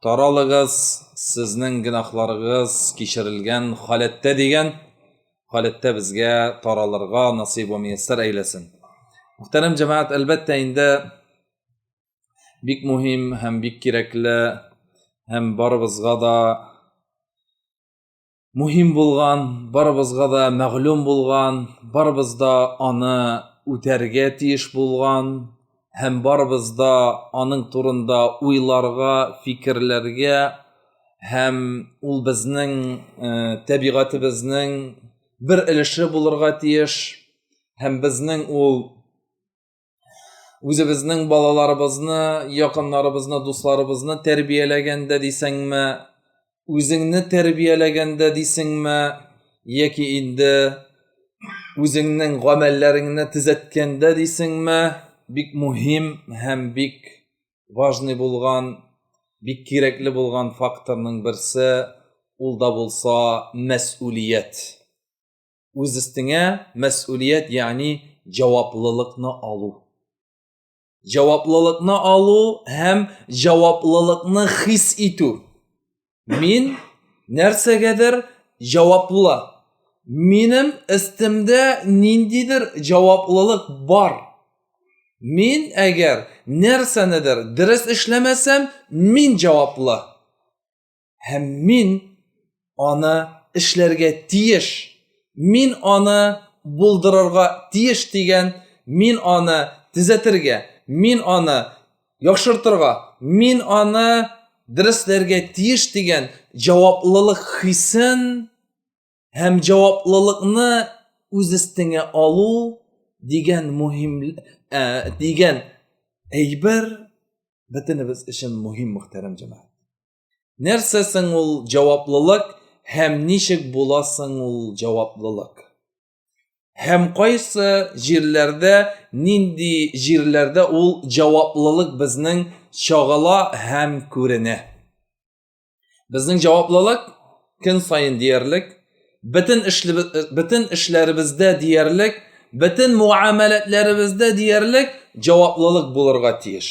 Таралыгыз, сезнең гөнаһларыгыз кичерелгән халәттә дигән халәттә безгә таралырга насыйп ва мияссәр әйләсен. Мөхтәрәм җәмәгать, әлбәттә инде бик мөһим һәм бик кирәкле һәм барыбызга да мөһим булган, барыбызга да мәгълүм булган, барыбыз да аны үтәргә тиеш булган һәм барыбыз да аның турында уйларга, фикерләргә һәм ул безнең э, табигатебезнең бер өлеше булырга тиеш һәм безнең ул үзебезнең балаларыбызны якыннарыбызны дусларыбызны тәрбияләгәндә дисеңме үзеңне тәрбияләгәндә дисеңме яки инде үзеңнең гамәлләреңне төзәткәндә дисеңме бик мөһим һәм бик важный булган бик кирәкле булган факторның берсе ул да булса мәсулият үз өстеңә мәсулият, ягъни җаваплылыкны алу. Җаваплылыкны алу һәм җаваплылыкны хис итү. Мин нәрсәгәдер җаваплы. Минем өстемдә ниндидер җаваплылык бар. Мин әгәр нәрсәнедер дөрес эшләмәсәм, мин җаваплы. һәм мин аны эшләргә тиеш мин аны булдырырга тиеш дигән мин аны төзәтергә мин аны яхшыртырга мин аны дөрестләргә тиеш дигән җаваплылык хисен һәм җаваплылыкны үз өстеңә алу дигән мөһим ә, дигән әйбер бөтенебез өчен мөһим мөхтәрәм җәмәгать Нәрсә соң ул җаваплылык һәм ничек була соң ул җаваплылык? Һәм кайсы җирләрдә, нинди җирләрдә ул җаваплылык безнең чагыла һәм күренә? Безнең җаваплылык көн саен диярлек, бөтен, бөтен эшләребездә диярлек, бөтен муамәләтләребездә диярлек җаваплылык булырга тиеш.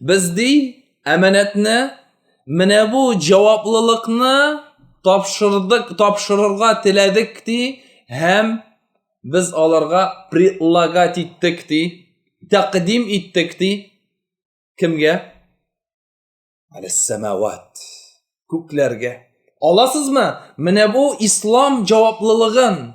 Без ди әманәтне менә бу җаваплылыкны тапшырдык, тапшырырга теләдек ди һәм без аларга предлагать иттек ди, тәкъдим иттек ди. Кемгә? Аль-Самават. Күкләргә. Аласызмы? Менә бу ислам җаваплылыгын.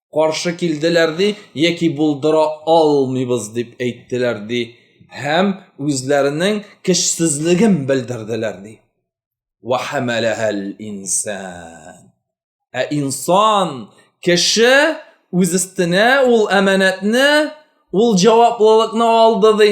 каршы килделәр ди яки булдыра алмыйбыз дип әйттеләр ди һәм үзләренең көчсезлеген белдерделәр ди инсан ә инсан кеше үз өстенә ул әманәтне ул җаваплылыкны алды ди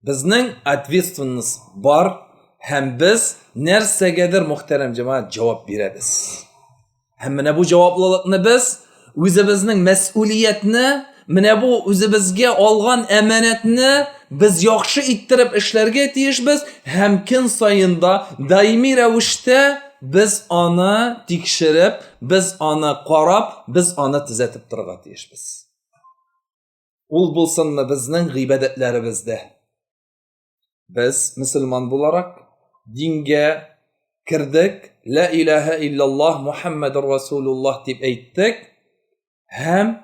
Безнең ответственность бар һәм без нәрсәгәдер мөхтәрәм җәмәгать җавап бирәбез. Һәм менә бу җаваплылыкны без үзебезнең мәсьулиятне, менә бу үзебезгә алган әманәтне без яхшы иттереп эшләргә тиешбез һәм көн саенда даими рәвештә без аны тикшереп, без аны карап, без аны төзәтеп торырга тиешбез. Ул булсынмы безнең гыйбадәтләребездә. Без мөселман буларак дингә кердек, ла илаһа иллаллаһ Мухаммадур Расулуллаһ дип әйттек һәм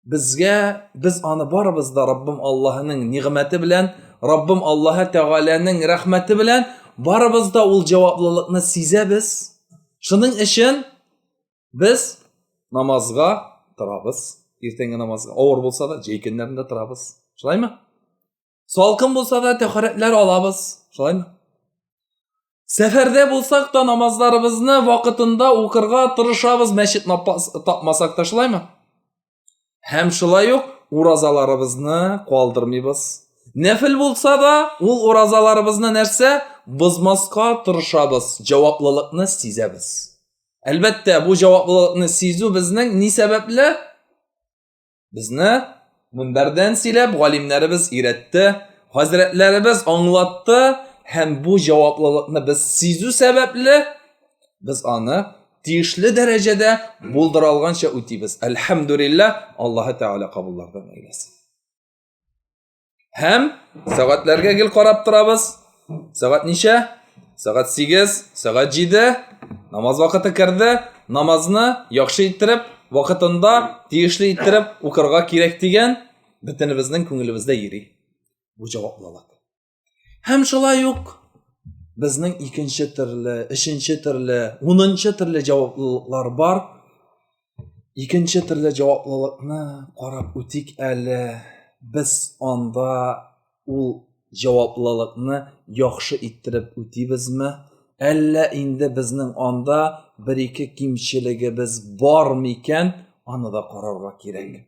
безгә без аны барыбыз да Раббым Аллаһының нигъмәте белән, Раббым Аллаһы Тәгаләнең рәхмәте белән барыбыз да ул җаваплылыкны сизәбез. Шуның өчен Без намазга торабыз. Иртәнге намазга авыр булса да, җәй көннәрендә торабыз. Шулаймы? Салкын булса да, тәхәрәтләр алабыз. Шулаймы? Сәфәрдә булсак та намазларыбызны вакытында укырга тырышабыз, мәчет тапмасак та, шулаймы? һәм шулай ук уразаларыбызны калдырмыйбыз нәфел булса да ул уразаларыбызны нәрсә бозмаска тырышабыз җаваплылыкны сизәбез әлбәттә бу җаваплылыкны сизү безнең ни сәбәпле безне мөнбәрдән сөйләп галимнәребез өйрәтте хәзрәтләребез аңлатты һәм бу җаваплылыкны без сизү сәбәпле без аны тиешле дәрәҗәдә булдыра алганча үтибез әлхәмдүлиллә аллаһы тәгалә кабуллардан әйләсен һәм сәгатьләргә гел карап торабыз сәгать ничә сәгать сигез сәгать җиде намаз вакыты керде намазны яхшы иттереп вакытында тиешле иттереп укырга кирәк дигән бөтенебезнең күңелебездә йөри бу җаваплылык Һәм шулай ук безнең икенче төрле, өченче төрле, унынчы төрле җаваплылыклар бар. Икенче төрле җаваплылыкны карап үтик әле. Без анда ул җаваплылыкны яхшы иттереп үтибезме? Әллә инде безнең анда бер-ике кимчелегебез бар микән? Аны да карарга кирәк.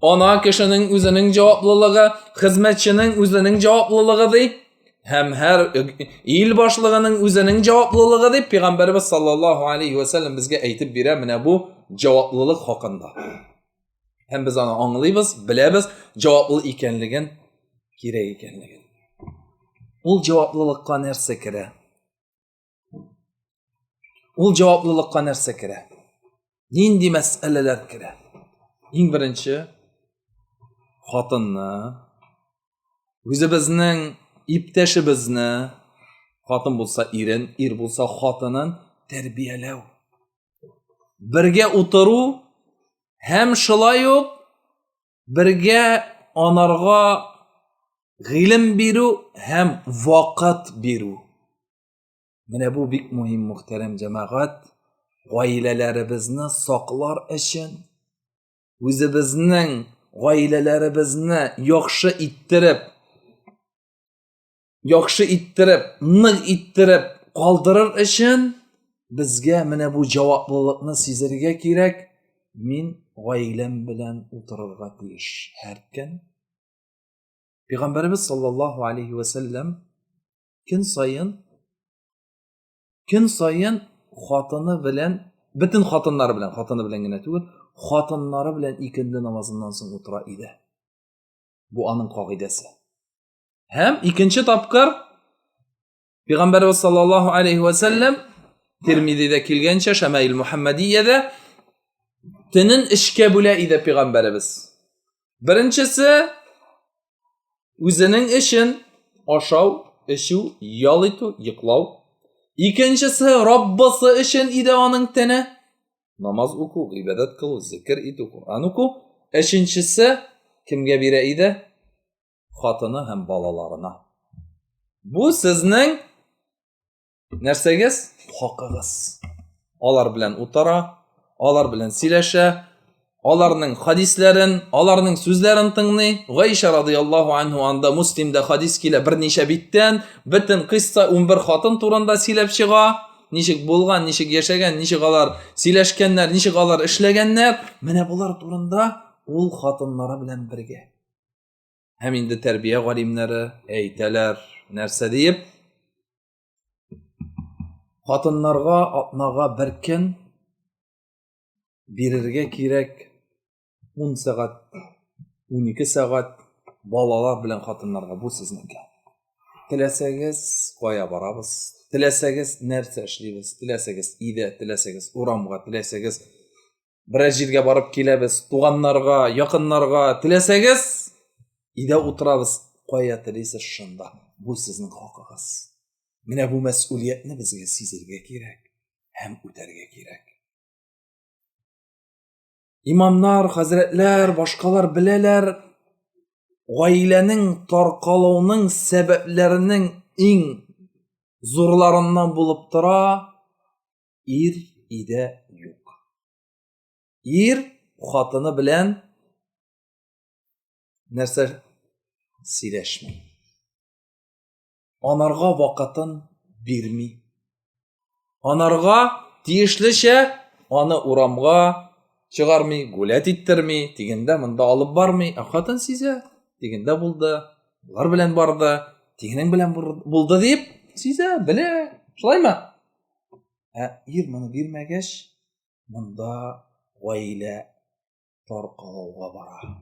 Ана кешенең үзенең җаваплылыгы, хезмәтченең үзенең җаваплылыгы ди. Һәм һәр ил башлыгының үзенең җаваплылыгы дип Пәйгамбәрбез саллаллаһу алейхи ва саллям безгә әйтеп бирә менә бу җаваплылык хакында. Һәм без аны аңлыйбыз, беләбез, җаваплы икәнлеген, кирәк икәнлеген. Ул җаваплылыкка нәрсә керә? Ул җаваплылыкка нәрсә керә? Нинди мәсьәләләр керә? Иң беренче хатынны үзебезнең иптәшебезне хатын булса ирен, ир булса хатынын тәрбияләү. Бергә утыру һәм шулай ук бергә анарга гыйлем бирү һәм вакыт бирү. Менә бу бик мөһим мөхтәрәм җәмәгать, гаиләләребезне саклар өчен үзебезнең гаиләләребезне яхшы иттереп, яхшы иттереп, нык иттереп калдырыр өчен безгә менә бу җаваплылыкны сизергә кирәк. Мин гаиләм белән утырырга тиеш һәркем. Пәйгамбәрбез саллаллаһу алейхи ва саллям көн саен көн саен хатыны белән бөтен хатыннары белән хатыны белән генә түгел хатыннары белән икенде намазыннан соң утыра иде бу аның кагыйдәсе һәм икенче тапкыр пәйгамбәрбез саллаллаху алейхи вәсәлләм термидиде килгәнчә шәмәил мөхәммәдиядә төнен эшкә бүлә иде пәйгамбәрбез беренчесе Үзенең эшен ашау, эчү, ял итү, йоклау. Икенчесе Раббысы өчен иде аның тәне. Намаз уку, гыйбадәт кылу, зикр итү, Коръән уку. Өченчесе кемгә бирә иде? Хатыны һәм балаларына. Бу сезнең нәрсәгез хакыгыз алар белән утыра алар белән сөйләшә аларның хадисләрен аларның сүзләрен тыңлый гайша радиаллаху анху анда муслимда хадис килә берничә биттән бөтен кыйсса 11 хатын турында сөйләп чыга ничек булган ничек яшәгән ничек алар сөйләшкәннәр ничек алар эшләгәннәр менә болар турында ул хатыннары белән бергә һәм инде тәрбия галимнәре әйтәләр нәрсә диеп хатыннарга атнага бер көн бирергә кирәк 10 сәгать 12 сәгать балалар белән хатыннарга бу сезнеке теләсәгез кая барабыз теләсәгез нәрсә эшлибез теләсәгез өйдә теләсәгез урамга теләсәгез бераз җиргә барып киләбез туганнарга якыннарга теләсәгез өйдә утырабыз кая телисез шунда бу сезнең хакыгыз менә бу мәсьулиятне безгә сизергә кирәк һәм үтәргә кирәк имамнар хәзрәтләр башкалар беләләр гаиләнең таркалуының сәбәпләренең иң зурларыннан булып тора Ир өйдә юк. Ир хатыны белән нәрсә сөйләшми. Анарга вакытын бирми. Анарга тиешлечә аны урамга чыгармый, гулять иттерми, дигәндә монда алып бармый. Ә хатын сизә, дигәндә булды, болар белән барды, дигәнең белән булды дип сизә, белә. Шулаймы? Ә ир моны бирмәгәч, монда гаилә таркалуга бара.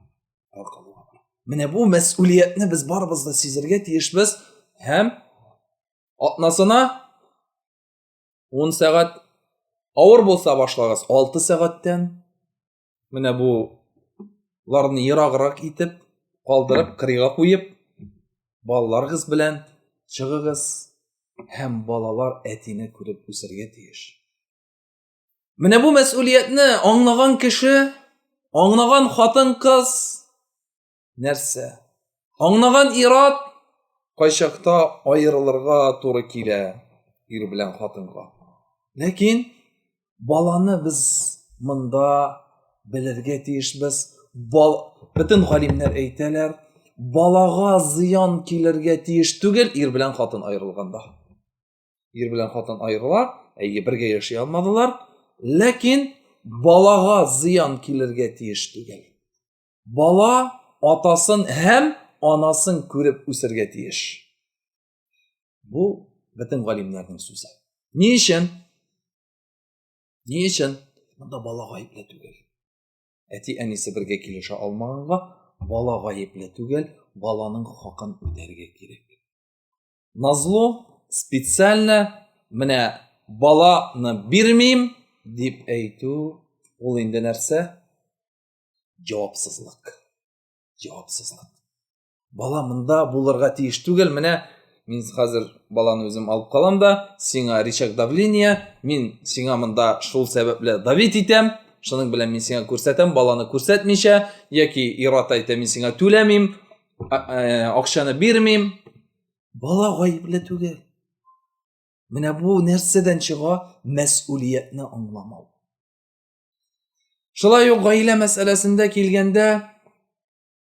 Таркалуга бара. Менә бу мәсьулиятне без барыбыз да сизергә тиешбез һәм атнасына 10 сәгать авыр булса башлагыз 6 сәгатьтән менә буларны ераграк итеп калдырып кырыйга куеп балаларыгыз белән чыгыгыз һәм балалар әтине күреп үсәргә тиеш менә бу мәсьулиятне аңлаган кеше аңлаган хатын кыз нәрсә? Аңлаган ират кайчакта аерылырга туры килә ир белән хатынга. Ләкин баланы без монда белергә тиешбез. Бал... Бөтен галимнәр әйтәләр, балага зыян килергә тиеш түгел ир белән хатын аерылганда. Ир белән хатын аерыла, әйе, бергә яши алмадылар, ләкин балага зыян килергә тиеш түгел. Бала атасын һәм анасын күреп үсергә тиеш. Бу бөтен галимнәрнең сүзе. Ни өчен? Ни өчен? Монда бала гаепле түгел. Әти әнисе бергә килешә алмаганга, бала гаепле түгел, баланың хакын үтәргә кирәк. Назло специально менә баланы бирмим дип әйтү, ул инде нәрсә? Җавапсызлык. Җавапсызлык. Бала монда булырга тиеш түгел, менә мин хәзер баланы үзем алып калам да, сиңа рычаг давления, мин сиңа монда шул сәбәпле давить итәм, шуның белән мин сиңа күрсәтәм, баланы күрсәтмичә, яки ират әйтә, мин сиңа түләмим, э, акчаны бирмим. Бала гаепле түгел. Менә бу нәрсәдән чыга мәсулиятне аңламау. Шулай ук гаилә мәсьәләсендә килгәндә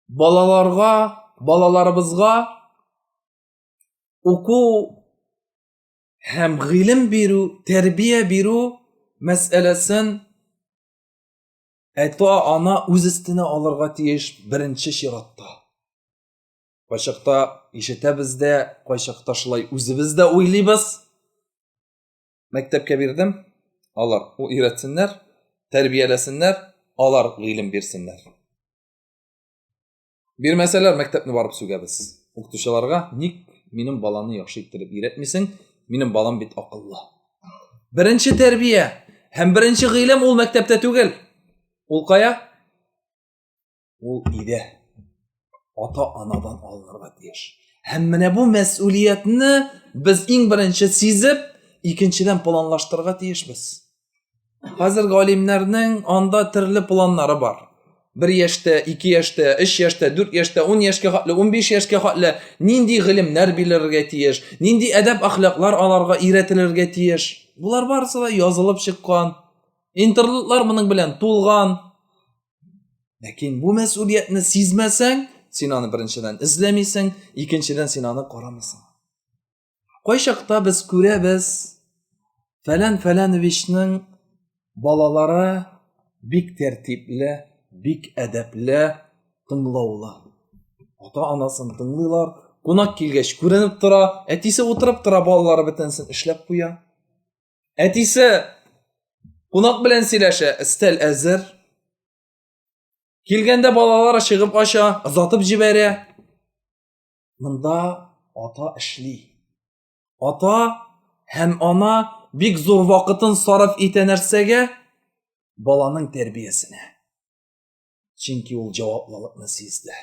балаларга, балаларыбызга уку һәм гыйлем бирү, тәрбия бирү мәсьәләсен әтә ана үз өстенә алырга тиеш беренче чиратта. Кайчакта ишетәбез дә, кайчакта шулай үзебез дә уйлыйбыз. мәктәпкә бирдем, алар өйрәтсеннәр, тәрбияләсеннәр, алар гыйлем бирсеннәр. Бирмәсәләр, мәктәпне барып сүгәбез. Укытучыларга ник минем баланы яхшы иттереп өйрәтмисең? Минем балам бит акыллы. Беренче тәрбия һәм беренче гыйлем ул мәктәптә түгел. Ул кая? ул иде ата анадан алынырга тиеш һәм менә бу мәсьулиятне без иң беренче сизеп икенчедән планлаштырырга тиешбез хәзер галимнәрнең анда төрле планнары бар бер яшьтә ике яшьтә өч яшьтә дүрт яшьтә ун яшькә хәтле унбиш яшькә хәтле нинди гыйлемнәр бирелергә тиеш нинди әдәп әхлаклар аларга өйрәтелергә тиеш болар барысы да язылып чыккан интернетлар моның белән тулган ләкин бу мәсулиятне сизмәсәң син аны беренчедән эзләмисең икенчедән син аны карамыйсың кайчакта без күрәбез фәлән фәләновичның балалары бик тәртипле бик әдәпле тыңлаулы ата анасын тыңлыйлар кунак килгәч күренеп тора әтисе утырып тора балалары бөтенесен эшләп куя Әтисе кунак белән сөйләшә, өстәл әзер. Килгәндә балалары чыгып ача, озатып җибәрә. Монда ата эшли. Ата һәм ана бик зур вакытын сарыф итә нәрсәгә? Баланың тәрбиясенә. Чөнки ул җаваплылыкны сизде.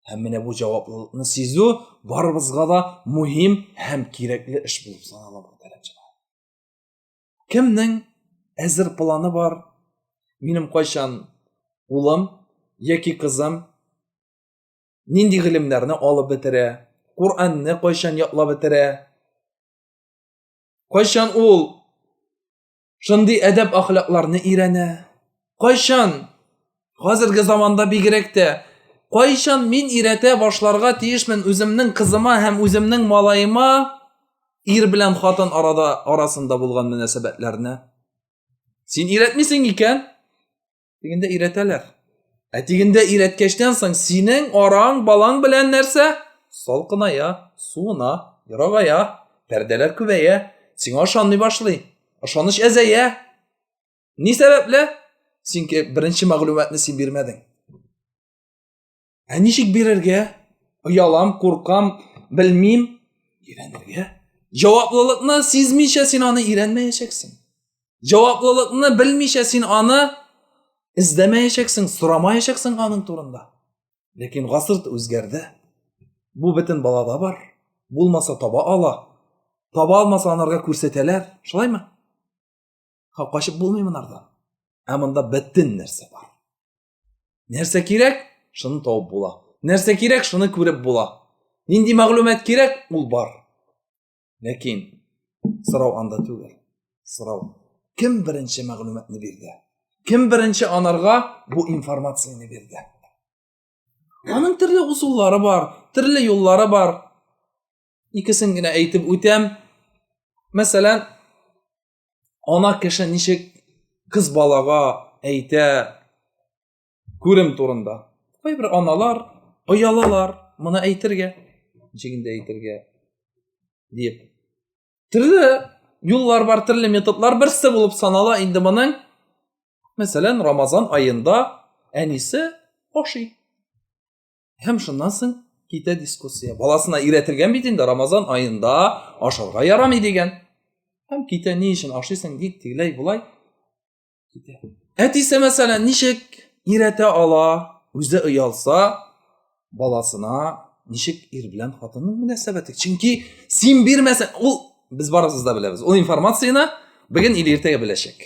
Һәм менә бу җаваплылыкны сизү барыбызга да мөһим һәм кирәкле эш булып санала мөхтәрәмчеләр. Кемнең әзер планы бар? Минем кайчан улым яки кызым нинди гыйлемнәрне алып бетерә? Куранны кайчан ятлап бетерә? Кайчан ул шундый әдәп ахлакларны өйрәнә. Кайчан? Хәзерге заманда бигрәк тә кайчан мин өйрәтә башларга тиешмен үземнең кызыма һәм үземнең малаема ир белән хатын арада арасында булган мөнәсәбәтләрне? Син өйрәтмисең икән? Тегендә өйрәтәләр. Ә тегендә өйрәткәчтән соң синең араң балаң белән нәрсә? Салкыная, суына, ерагая, пәрдәләр күбәя, сиңа ышанмый башлый. Ышаныч әзәя. Ни сәбәпле? Синке беренче мәгълүматны син бирмәдең. Ә ничек бирергә? Оялам, куркам, белмим. Өйрәнергә. Җаваплылыкны сизмичә син аны өйрәнмәячәксең. Җаваплылыкны белмичә син аны эзләмәячәксең, сорамаячәксең аның турында. Ләкин гасыр үзгәрде. Бу бөтен балада бар. Булмаса таба ала. Таба алмаса анарга күрсәтәләр. Шулаймы? Ха качып булмый монардан. Ә монда бөтен нәрсә бар. нәрсә кирәк шуны табып була нәрсә кирәк шуны күреп була нинди мәгълүмат кирәк ул бар ләкин сорау анда түгел сорау кем беренче мәгълүматны бирде кем беренче анарга бу информацияне бирде аның төрле узуллары бар төрле юллары бар икесен генә әйтеп үтәм мәсәлән ана кеше ничек кыз балага әйтә күрем турында кайбер аналар оялалар моны әйтергә ничек инде әйтергә дип төрле юллар бар төрле методлар берсе булып санала инде моның мәсәлән рамазан аенда әнисе ашый һәм шуннан соң китә дискуссия баласына өйрәтелгән бит инде рамазан аенда ашарга ярамый дигән һәм китә ни өчен ашыйсың ник тегеләй болай китә әтисе мәсәлән ничек өйрәтә ала үзе оялса баласына ничек ир белән хатынның мөнәсәбәте чөнки син бирмәсәң ул без барыбыз да беләбез ул информацияне бүген или иртәгә беләчәк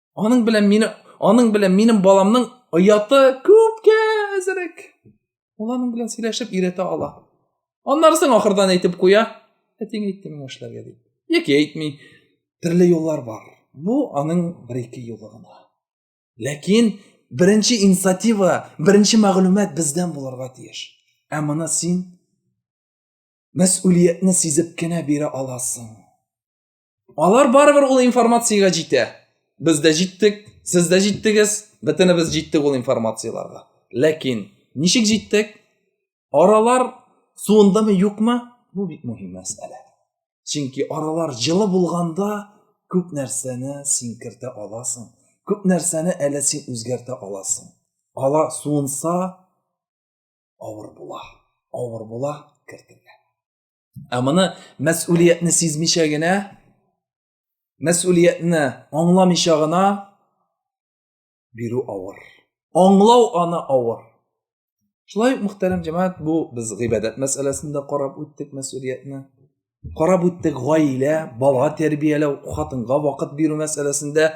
Аның белән мине, аның белән минем баламның ояты күпкә әзерәк. Ул аның белән сөйләшеп өйрәтә ала. Аннарысын ахырдан әйтеп куя. Әтиң әйтте миңа эшләргә дип. Яки әйтми. Төрле юллар бар. Бу аның бер-ике юлы гына. Ләкин беренче инициатива, беренче мәгълүмат бездән булырга тиеш. Ә моны син мәс'улиятне сизеп кенә бирә аласың. алар барыбер ул информациягә җитә без дә җиттек сез дә җиттегез бөтенебез җиттек ул информацияләргә ләкин ничек җиттек аралар суындымы юкмы бу бик мөһим мәсьәлә чөнки аралар җылы булганда күп нәрсәне син кертә аласың күп нәрсәне әле син үзгәртә аласың ала суынса авыр була авыр була кертелә Ә моны мәс'улиятне сизмичә генә, мәс'улиятне аңламыйча гына бирү авыр. Аңлау аны авыр. Шулай ук мөхтәрәм җәмәгать, бу без гыйбадәт мәсьәләсендә карап үттек мәс'улиятне. Карап үттек гаилә, бала тәрбияләү, хатынга вакыт бирү мәсьәләсендә.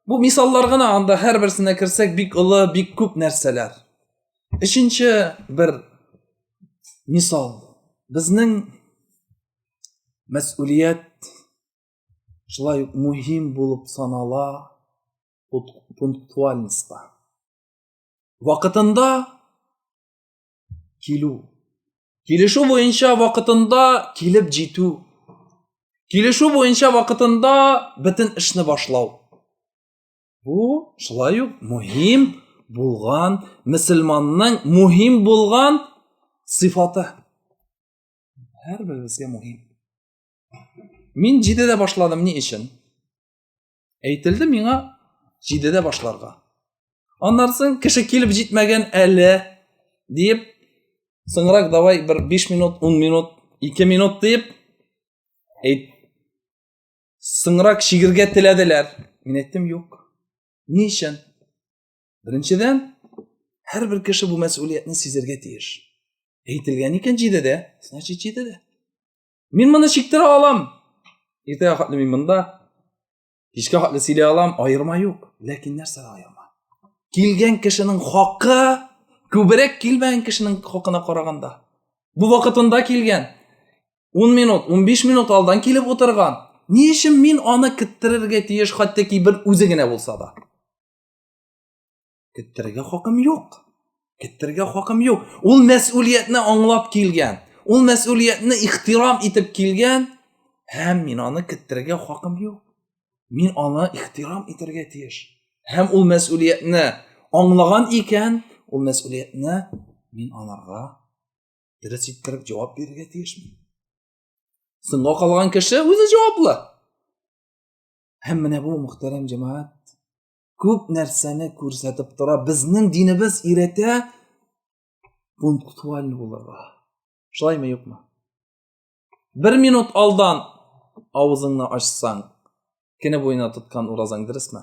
Бу мисаллар гына, анда һәр берсенә керсәк бик олы, бик күп нәрсәләр. Өченче бер мисал безнең мәсулият шулай ук мөһим булып санала пунктуальностьта вакытында килү килешү буенча вакытында килеп җитү килешү буенча вакытында бөтен эшне башлау Бу шулай ук мөһим булган мөселманның мөһим булган сыйфаты. Һәрберебезгә мөһим. Мин 7-дә башладым ни өчен? Әйтелде миңа 7-дә башларга. Аннан соң кеше килеп җитмәгән әле диеп соңрак давай бер 5 минут, 10 минут, 2 минут диеп әйт соңрак чигергә теләделәр мин әйттем юк ни өчен беренчедән һәрбер кеше бу мәсьулиятне сизергә тиеш әйтелгән икән җидедә значит җидедә мин моны чиктерә алам иртәгә хәтле мин монда кичкә хәтле сөйли алам аерма юк ләкин нәрсә аерма килгән кешенең хакы күбрәк килмәгән кешенең хакына караганда бу вакытында килгән 10 минут, 15 минут алдан килеп утырган. Ни өчен мин аны киттерергә тиеш, хәтта ки бер үзе генә булса да? Киттерергә хакым юк. Киттерергә хакым юк. Ул мәс'улиятне аңлап килгән. Ул мәс'улиятне ихтирам итеп килгән. Һәм мин аны киттерергә хакым юк. Мин аны ихтирам итәргә тиеш. Һәм ул мәс'улиятне аңлаган икән, ул мәс'улиятне мин аларга дөрес иткереп җавап бирергә тиешме соңга калган кеше үзе җаваплы һәм менә бу мөхтәрәм җәмәгать күп нәрсәне күрсәтеп тора безнең динебез өйрәтә пунктуаль булырга шулаймы юкмы бер минут алдан авызыңны ачсаң кене буена тоткан уразаң дөресме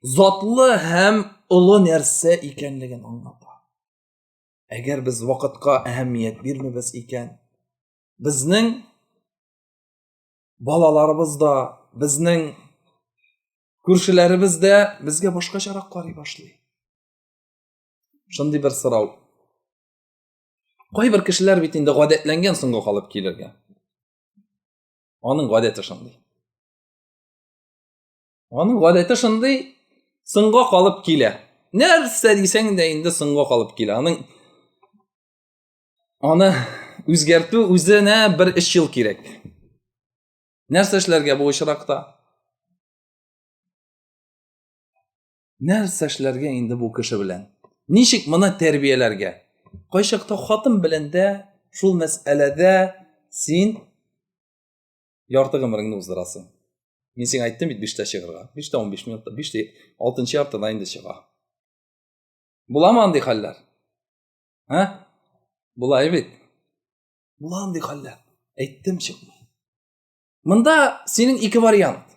затлы һәм олы нәрсә икәнлеген аңлата. Әгәр без вакытка әһәмият бирмибез икән, безнең балаларыбыз да, безнең күршеләребез дә безгә башкачарак карый башлый. Шундый бер сорау. Кайбер кешеләр бит инде гадәтләнгән соңга калып килергә. Аның гадәте шундый. Аның гадәте шундый соңга калып килә. Нәрсә дисәң дә инде соңга калып килә. Аның аны үзгәртү үзенә бер 3 ел кирәк. Нәрсә эшләргә бу очракта? Нәрсә эшләргә инде бу кеше белән? Ничек моны тәрбияләргә? Кайчакта хатын белән дә шул мәсьәләдә син ярты гомереңне уздырасың мин сиңа әйттем бит биштә чыгарга биштә он биш минутта биштә алтынчы яртыда инде чыга буламы андый хәлләр ә була бит була андый хәлләр әйттем чыкмый мында синең ике вариант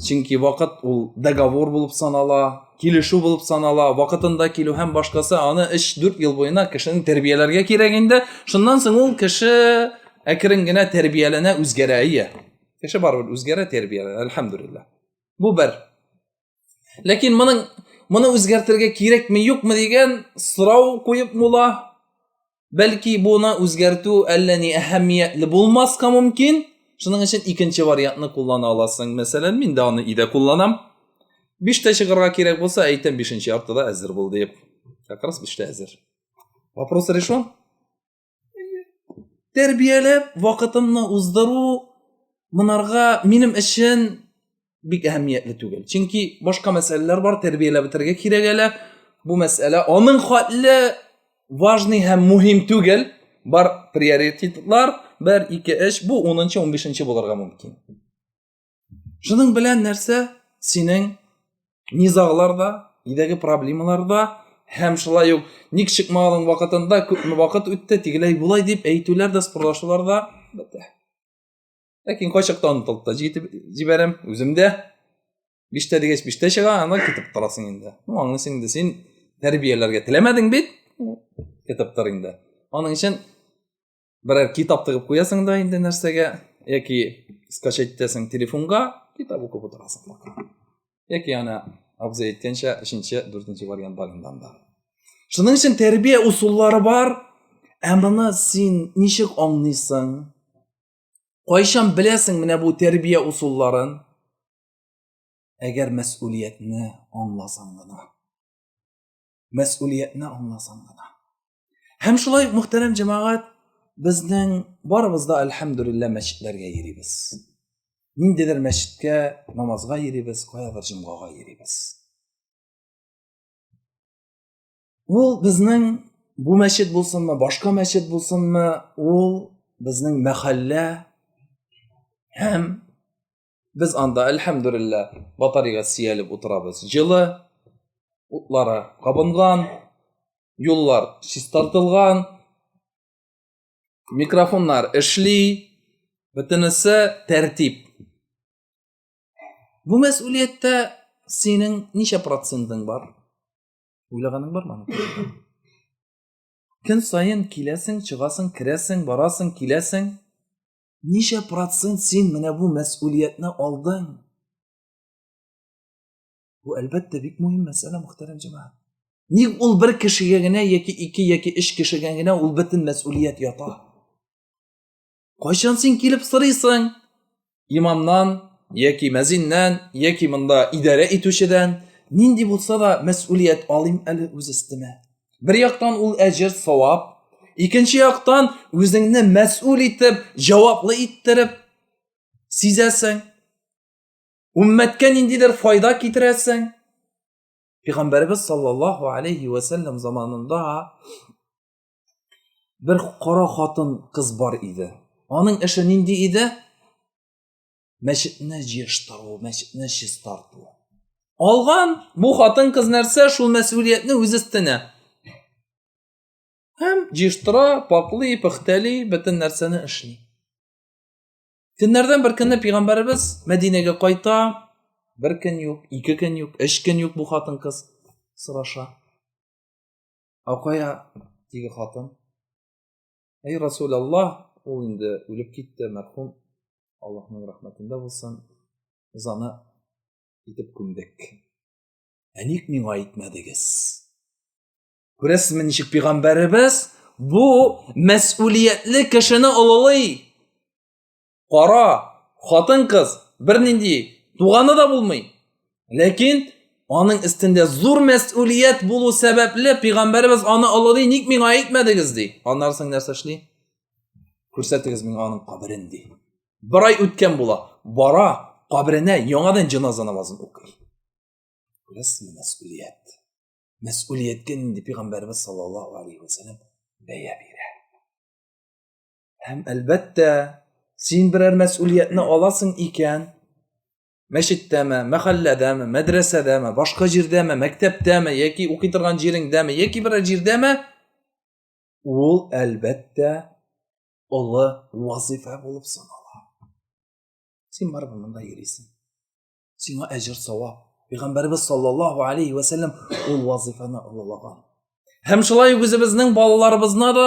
чөнки вакыт ул договор булып санала килешү булып санала вакытында килү һәм башкасы аны 3-4 ел буена кешене тәрбияләргә кирәк инде шуннан соң ул кеше әкрен генә тәрбияләнә үзгәрә ия кеше барыбер үзгәрә тәрбияләнә әлхәмдулилла бу бер ләкин моның моны үзгәртергә кирәкме юкмы дигән сорау куеп мула Бәлки буны үзгәртү әллә ни әһәмиятле булмаска мөмкин. Шуның өчен икенче вариантны куллана аласың. Мәсәлән, мин дә аны өйдә кулланам. Биштә чыгарга кирәк булса, әйтәм, бишенче яртыда әзер бул дип. Как раз биштә әзер. Вопрос решен. Тәрбияләп, вакытымны уздыру, монарга минем өчен бик әһәмиятле түгел чөнки башка мәсьәләләр бар тәрбияләп бетерергә кирәк әле бу мәсьәлә аның хәтле важный һәм мөһим түгел бар приоритетлар бер ике эш бу унынчы унбишенче булырга мөмкин шуның белән нәрсә синең низаглар да өйдәге проблемалар да һәм шулай ук ник чыкмаганың вакытында күпме вакыт үтте тегеләй болай дип әйтүләр дә спорлашулар да бетә ләкин кайчакта онытылып та җитеп җибәрәм үзем дә биштә дигәч биштә чыга анда китеп торасың инде ну аңлыйсың инде син тәрбияләргә теләмәдең бит китеп тор инде аның өчен берәр китап тыгып куясың да инде нәрсәгә яки скачать итәсең телефонга китап укып утырасың яки ана абзый әйткәнчә өченче дүртенче вариант бар инде анда шуның өчен тәрбия ысуллары бар ә моны син ничек аңлыйсың Кайчан беләсең менә бу тәрбия усулларын? Әгәр мәсъулиятне аңласаң гына. Мәсъулиятне аңласаң гына. Һәм шулай мөхтәрәм җәмәгать, безнең барыбыз да әлхәмдүлиллә мәчетләргә йөрибез. Ниндидер мәчеткә намазга йөрибез, каядыр җомгага йөрибез. ул безнең бу мәчет булсынмы башка мәчет булсынмы ул безнең мәхәллә һәм без анда әлхәмдүлилла батареяга сөялеп утырабыз җылы утлары кабынган юллар чистартылган микрофоннар эшли бөтенесе тәртип бу мәсьулияттә синең ничә процентың бар Уйлаганың бармы аны? Көн саен киләсең, чыгасың, керәсең, барасың, киләсең. Ничә процент син менә бу мәсьулиятне алдың? Бу әлбәттә бик мөһим мәсьәлә, мөхтәрәм җәмәгать. Ник ул бер кешегә генә яки ике яки өч кешегә генә ул бөтен мәсьулият ята? кайчан син килеп сорыйсың имамнан яки мәзиннән яки монда идарә итүчедән нинди булса да мәсулият алыйм әле үз өстемә бер яктан ул әҗер савап икенче яктан үзеңне мәсул итеп җаваплы иттереп сизәсең Уммәткә ниндидер файда китерәсең. Пәйгамбәрбез саллаллаһу алейхи ва заманында Бер кара хатын кыз бар иде. Аның эше нинди иде? Мәчетне җыештыру, мәчетне чистарту. Алган бу хатын кыз нәрсә шул мәсьулиятне үз өстенә. Һәм җыештыра, пакли, пөхтәли, бөтен нәрсәне эшли. Көннәрдән бер көнне пәйгамбәребез Мәдинәгә кайта, бер көн юк, ике көн юк, өч көн юк бу хатын кыз сораша. Акая теге хатын. Әй Расул Аллах, ул инде үлеп китте, мәрхүм. Аллаһның рәхмәтендә булсын. Заны итеп күмдек. Ә ник миңа әйтмәдегез? Күрәсезме, ничек пигамбәребез бу мәсъулиятле кешене олылый? кара хатын кыз бернинди туганы да булмый ләкин аның өстендә зур мәсулият булу сәбәпле пәйгамбәребез аны олылый ник миңа әйтмәдегез ди аннан соң нәрсә эшли күрсәтегез миңа аның каберен ди бер ай үткән була бара каберенә яңадан җеназа намазын укый күрәсезме мәсулият мәсулияткә нинди пәйгамбәребез саллаллаху алейхи вассалам бәя бирә Һәм әлбәттә, син берәр мәсьулиятне аласың икән, мәчеттәме, мәхәлләдәме, мәдрәсәдәме, башка җирдәме, мәктәптәме яки укый торган җиреңдәме яки берәр җирдәме, ул әлбәттә олы вазифа булып санала. Син барыбер монда йөрисең. Сиңа әҗер савап. Пәйгамбәрбез саллаллаһу алейхи ва саллям ул вазифаны олылаган. Һәм шулай үзебезнең балаларыбызны да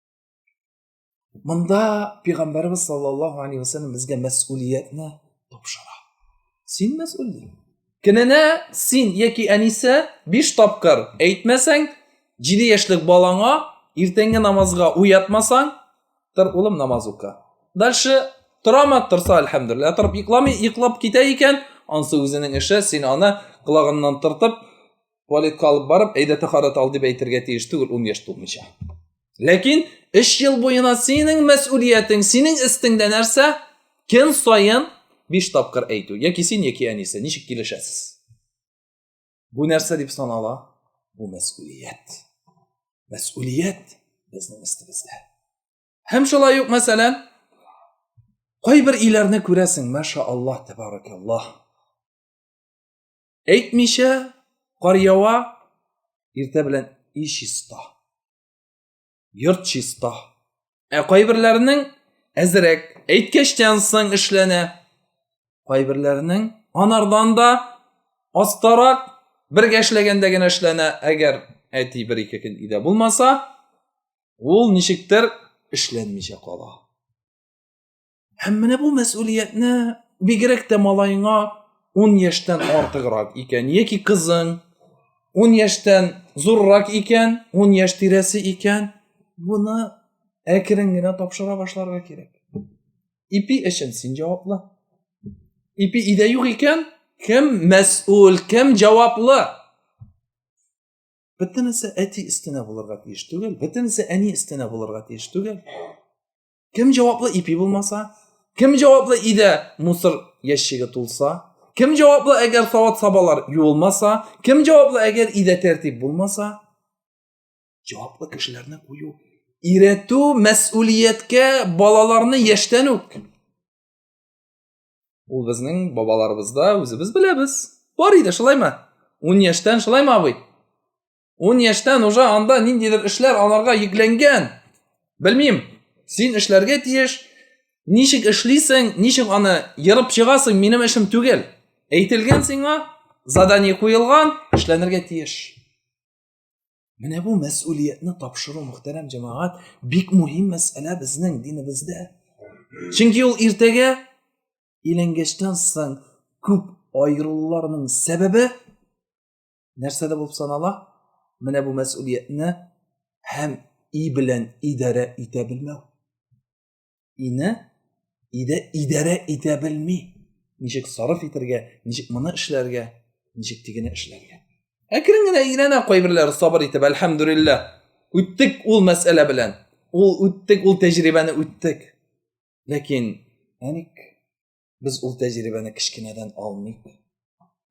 Монда пәйгамбәрбез саллаллаһу алейһи вәсәлләм безгә мәсъулиятне тапшыра. Син мәсъул дин. Көненә син яки әнисе 5 тапкыр әйтмәсәң, 7 яшьлек балаңа иртәнге намазга уятмасаң, тор улым намаз ука. Дальше торама торса әлхәмдүлилләһ, торып йокламый, йоклап китә икән, ансы үзенең эше, син аны колагыннан тыртып, туалетка алып барып әйдә тәхарәт ал дип әйтергә тиеш түгел ун яшь тулмыйча ләкин өч ел буена синең мәсүлиятең синең өстеңдә нәрсә көн саен биш тапкыр әйтү яки син яки әнисе ничек килешәсез бу нәрсә дип санала бу мәсүлият мәсүлият безнең өстебездә һәм шулай ук мәсәлән кайбер иләрне күрәсең маша аллаһ тәбаракаллаһ әйтмичә кар ява иртә белән и чиста йорт чиста ә кайберләренең әзерәк әйткәчтән соң эшләнә кайберләренең анардан да астарак бергә эшләгәндә генә эшләнә әгәр әти бер ике көн өйдә булмаса ул ничектер эшләнмичә кала Һәм менә бу мәсьулиятне бигрәк тә малаеңа 10 яшьтән артыграк икән, яки кызың 10 яшьтән зуррак икән, 10 яшь тирәсе икән, буны әкрен генә тапшыра башларга кирәк. Ипи өчен син җаваплы. Ипи идә юк икән, кем мәсьул, кем җаваплы? Бөтенесе әти өстенә булырга тиеш түгел, бөтенесе әни өстенә булырга тиеш түгел. кем җаваплы ипи булмаса кем җаваплы өйдә мусор ящигы тулса кем җаваплы әгәр сават сабалар юылмаса кем җаваплы әгәр өйдә тәртип булмаса җаваплы кешеләрне кую өйрәтү мәсүлияткә балаларны яшьтән үк ул безнең бабаларыбызда үзебез беләбез бар иде шулаймы ун яшьтән шулаймы абый Ун яшьтән уже анда ниндидер эшләр аларга йөкләнгән. Белмим, син эшләргә тиеш. Ничек эшлисең, ничек аны ерып чыгасың, минем эшем түгел. Әйтелгән сиңа, задание куелган, эшләнергә тиеш. Менә бу мәс'улиятне тапшыру, мөхтәрәм җәмәгать, бик мөһим мәсьәлә безнең динебездә. Чөнки ул иртәгә иләнгәчтән соң күп аерылуларның сәбәбе нәрсә дә булып санала менә бу мәсулиятне һәм и белән идарә итә белмәү ине иде идарә итә белми ничек сарыф итәргә ничек моны эшләргә ничек тигене эшләргә әкрен генә өйрәнә кайберләре сабыр итеп әлхәмдүлиллә үттек ул мәсьәлә белән ул үттек ул тәҗрибәне үттек ләкин әник Без ул тәҗрибәне кечкенәдән алмыйк.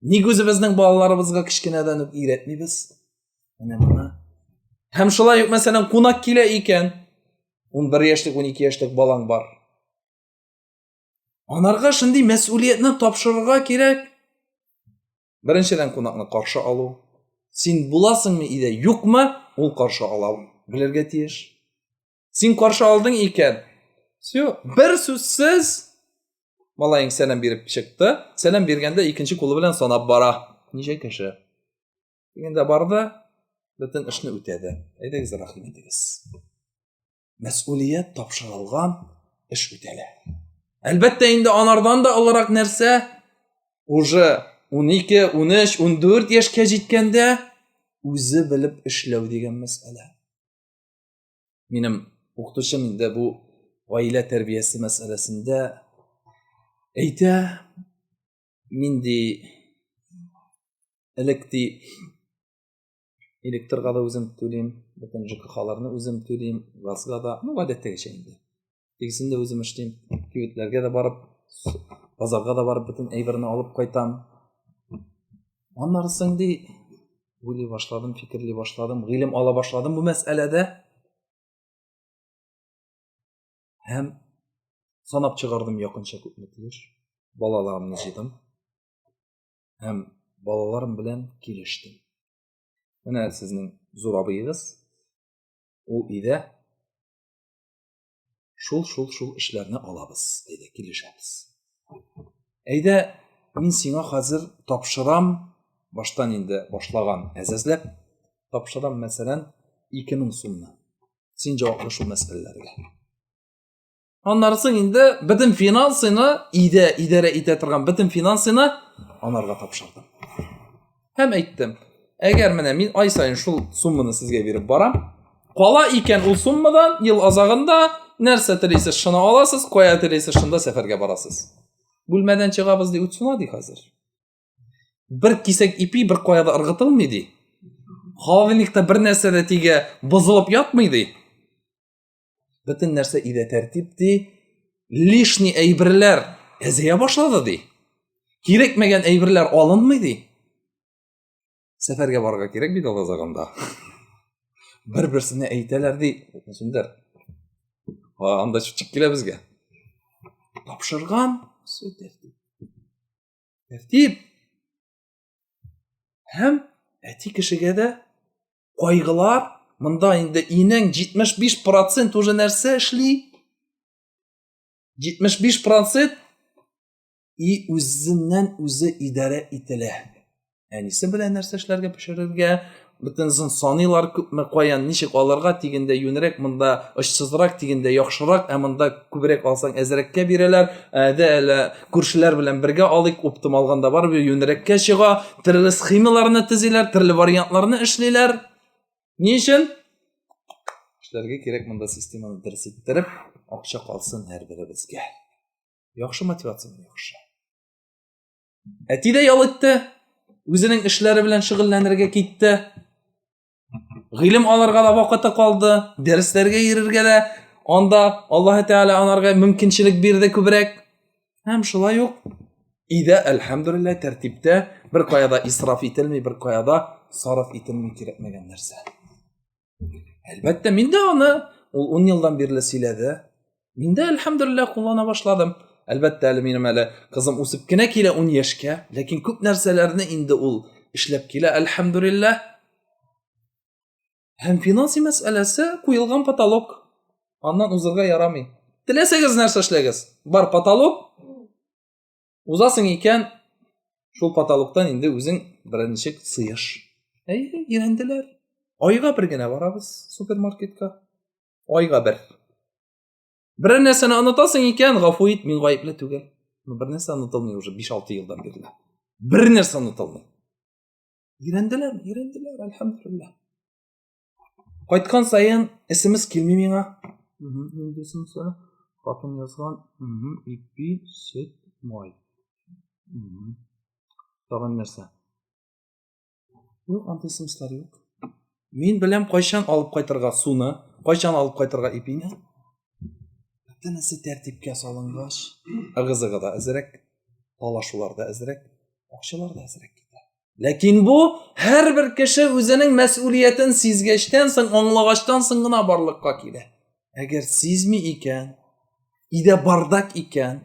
Ник үзебезнең балаларыбызга кечкенәдән үк өйрәтмибез? Менә моны. Һәм шулай ук мәсәлән кунак килә икән, 11 яшьлек, 12 яшьлек балаң бар. Анарга шундый мәсьулиятне тапшырырга кирәк. Беренчедән кунакны каршы алу. Син буласыңмы или юкмы, ул каршы ала белергә тиеш. Син каршы алдың икән. Все, бер сүзсез малаең сәлам биреп чыкты. Сәлам биргәндә икенче кулы белән санап бара. Ничә кеше? Дигәндә барды, бөтен эшне үтәде. Әйдәгез, рәхим итегез. Мәсъулият тапшырылган эш үтәлә. Әлбәттә инде анардан да олырак нәрсә? Уже 12, 13, 14 яшькә җиткәндә үзе белеп эшләү дигән мәсьәлә. Минем укытучым инде бу гаилә тәрбиясе мәсьәләсендә әйтә, мин ди элек ди электрга да үзем түлим, бөтен ЖКХларны үзем түлим, газга да, ну, гадәттәгечә инде. тегесен дә үзем эшлим кибетләргә дә барып базарга да барып бөтен әйберне алып кайтам аннары соң ди уйлый башладым фикерли башладым гыйлем ала башладым бу мәсьәләдә һәм санап чыгардым якынча күпме тиеш балаларымны җыйдым һәм балаларым белән килештем менә сезнең зур абыегыз ул өйдә Шул-шул-шул эшләрне алабыз, әйдә, килешәбез. Әйдә, мин сиңа хәзер тапшырам, баштан инде башлаган әзәзләп, тапшырам, мәсәлән, 2000 сумны. Син җаваплы шул мәсьәләләргә. Аннары соң инде бөтен финансыны иде, идарә итә торган бөтен финансыны анарга тапшырдым. һәм әйттем әгәр менә мин ай сайын шул сумманы сезгә биреп барам кала икән ул суммадан ел азагында нәрсә телисез шуны аласыз кая телисез шунда сәфәргә барасыз бүлмәдән чыгабыз ди үтсуна ди хәзер бер кисәк ипи бер кая да ыргытылмый ди холодильникта бер нәрсә дә тигә бозылып ятмый ди бөтен нәрсә өйдә тәртип ди лишний әйберләр әзәя башлады ди кирәкмәгән әйберләр алынмый ди сәфәргә барырга кирәк бит алла загында бер берсенә әйтәләр ди шундер анда чүчек килә безгә тапшырган все тәртип тәртип һәм әти кешегә дә кайгылар, монда инде инең 75 процент уже нәрсә эшли? 75 процент и үзеннән үзе идарә ителә. Әнисе белән нәрсә эшләргә пешерергә, бөтен саныйлар күпме каян ничек алырга дигәндә юнрәк монда очсызрак дигәндә яхшырак ә монда күбрәк алсаң әзрәккә бирәләр ә дә әле күршеләр белән бергә алыйк, уптым алганда барып юнерәккә чыга, төрле схемаларны төзиләр, төрле вариантларны эшлиләр. Ни өчен? Эшләргә кирәк монда системаны дөрес иттереп, акча калсын һәрберебезгә. Яхшы мотивация яхшы. Әти дә ял итте, үзенең эшләре белән шөгыльләнергә китте. гыйлем алырга да вакыты калды, дәресләргә йөрергә дә анда Аллаһ Тәгалә анарга мөмкинчелек бирде күбрәк. Һәм шулай ук өйдә әлхәмдулилла тәртиптә бер каяда исраф ителми, бер каяда сарыф ителми кирәкмәгән нәрсә. Әлбәттә, мин дә аны ул 10 елдан бирле сөйләде. Мин дә, әлхәмдулилла, куллана башладым. Әлбәттә, әле минем әле кызым үсеп кенә килә 10 яшькә, ләкин күп нәрсәләрне инде ул эшләп килә, әлхәмдулилла. Һәм финанси мәсьәләсе куелган потолок. Аннан узырга ярамый. Теләсәгез нәрсә эшләгез. Бар потолок. Узасың икән, шул потолоктан инде үзең беренче сыеш. Әйе, ирәнделәр. Айга бер генә барабыз супермаркетка. Айга бер. Бер нәрсәне онытасың икән, гафу ит, мин гаепле түгел. Ну, бер нәрсә онытылмый уже 5-6 елдан бирле. Бер нәрсә онытылмый. Ирәнделәр, ирәнделәр, әлхәмдулилла. Кайткан саен исемс килми миңа. Исемсә, хатын язган, ипи, сөт, май. Тагын нәрсә? Юк, андый смыслар юк. Мин беләм кайчан алып кайтырга суны, кайчан алып кайтырга ипине. Бөтенесе тәртипкә салынгач, ыгызыгы да әзрәк, талашулар да әзрәк, акчалар да әзрәк китә. Ләкин бу һәрбер кеше үзенең мәсьулиятен сизгәчтән соң, аңлагачтан соң гына барлыкка килә. Әгәр сизми икән, идә бардак икән,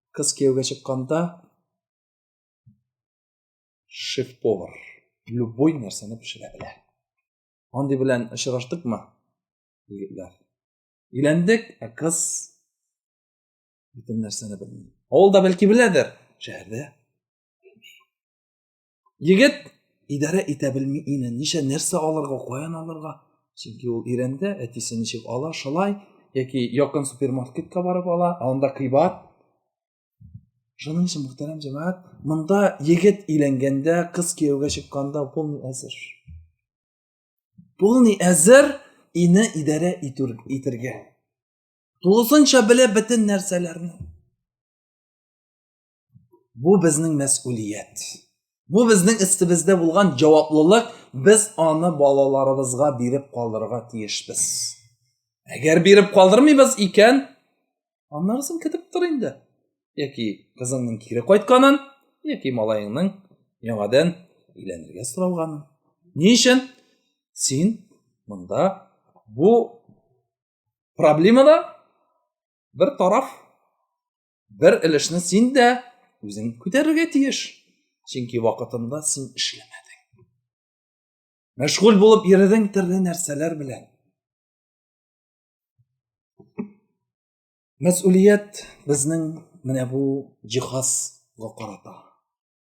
кыз кияүгә чыкканда шеф-повар любой нәрсәне пешерә белә андый белән очраштыкмы егетләр өйләндек ә кыз бөтен нәрсәне белми авылда бәлки беләдер шәһәрдә Егет идарә итә белми ине. Ничә нәрсә алырга, каян алырга? Чөнки ул ирәндә әтисе ничек ала, шулай яки якын супермаркетка барып ала, анда кыйбат. Шуның өчен мөхтәрәм җәмәгать, монда егет иләнгәндә, кыз кияүгә чыкканда полный әзер. Полный әзер ине идарә итергә. Тулысынча белә бөтен нәрсәләрне. бу безнең мәсулият бу безнең өстебездә булган җаваплылык без аны балаларыбызга биреп калдырырга тиешбез әгәр биреп калдырмыйбыз икән аннарысын көтеп тор инде яки кызыңның кире кайтканын яки малаеңның яңадан өйләнергә соралганын ни өчен син монда бу проблемада бер тараф бер өлешне син дә үзең күтәрергә тиеш чөнки вакытында син эшләмәдең мәшгуль булып йөрдең төрле нәрсәләр белән мәсулият безнең менә бу җиһазга карата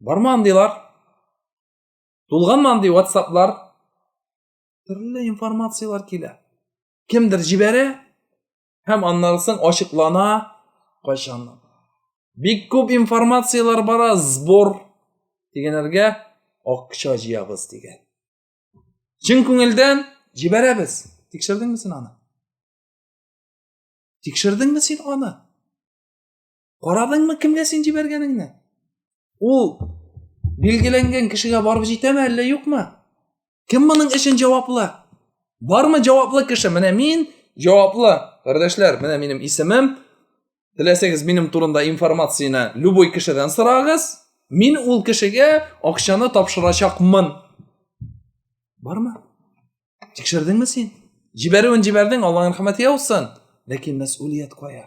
бармы андыйлар тулганмы андый ватсаплар төрле информациялар килә кемдер җибәрә һәм аннан соң ачыклана кайчан бик күп информациялар бара сбор дигәннәргә акча җыябыз дигән чын күңелдән җибәрәбез тикшердеңме син аны тикшердеңме син аны Карадыңмы кемгә син җибәргәнеңне? Ул билгеләнгән кешегә барып җитәме әллә юкмы? Кем моның өчен җаваплы? Бармы җаваплы кеше? Менә мин җаваплы. Кардәшләр, менә минем исемем. Теләсәгез минем турында информацияне любой кешедән сорагыз. Мин ул кешегә акчаны тапшырачакмын. Бармы? Тикшердеңме син? Җибәрүен җибәрдең, Аллаһның рәхмәте яусын. Ләкин мәсъулият кая?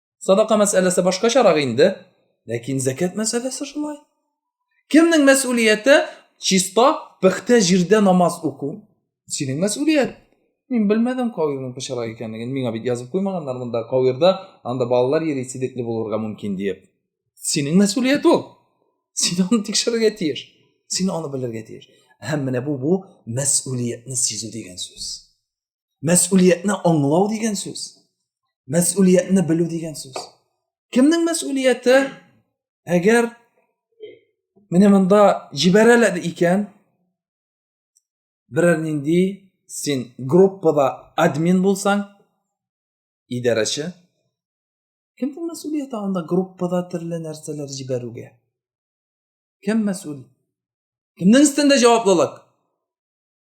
Садака мәсьәләсе башкачарак инде, ләкин зәкәт мәсьәләсе шулай. Кемнең мәсьулияте чиста пөхтә җирдә намаз уку? Синең мәсьулият. Мин белмәдем кавирның пычрак икәнлеген. Миңа бит язып куймаганнар монда кавирда, анда балалар йөри сидекле булырга мөмкин диеп. Синең мәсьулият ул. Син аны тикшерергә тиеш. Син аны белергә тиеш. Һәм менә бу бу мәсьулиятне сизү дигән сүз. Мәсулиятне аңлау дигән сүз. Мәсулиятне белү дигән сүз. Кемнең мәсулияте? Әгәр менә монда җибәрәләр икән, берәр нинди син группада админ булсаң, идарәче, кемнең мәсулияте анда группада төрле нәрсәләр җибәрүгә? Кем мәсул? Кемнең өстендә җаваплылык?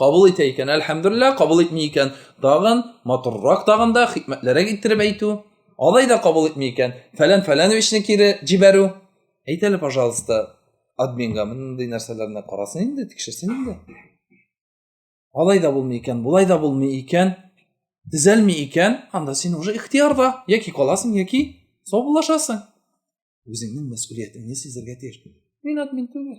кабул итә икән әлхәмдулилла кабул итми икән тагын матуррак тагын да хикмәтлерәк иттереп әйтү алай да кабул итми икән фәлән фәләновичны кире җибәрү әйт әле пожалуйста админга мондый нәрсәләрне карасын инде тикшерсен инде алай да булмый икән болай да булмый икән төзәлми икән анда син уже ихтиярда яки каласың яки саубуллашасың үзеңнең мәсулиятеңне сизергә тиеш мин админ түгел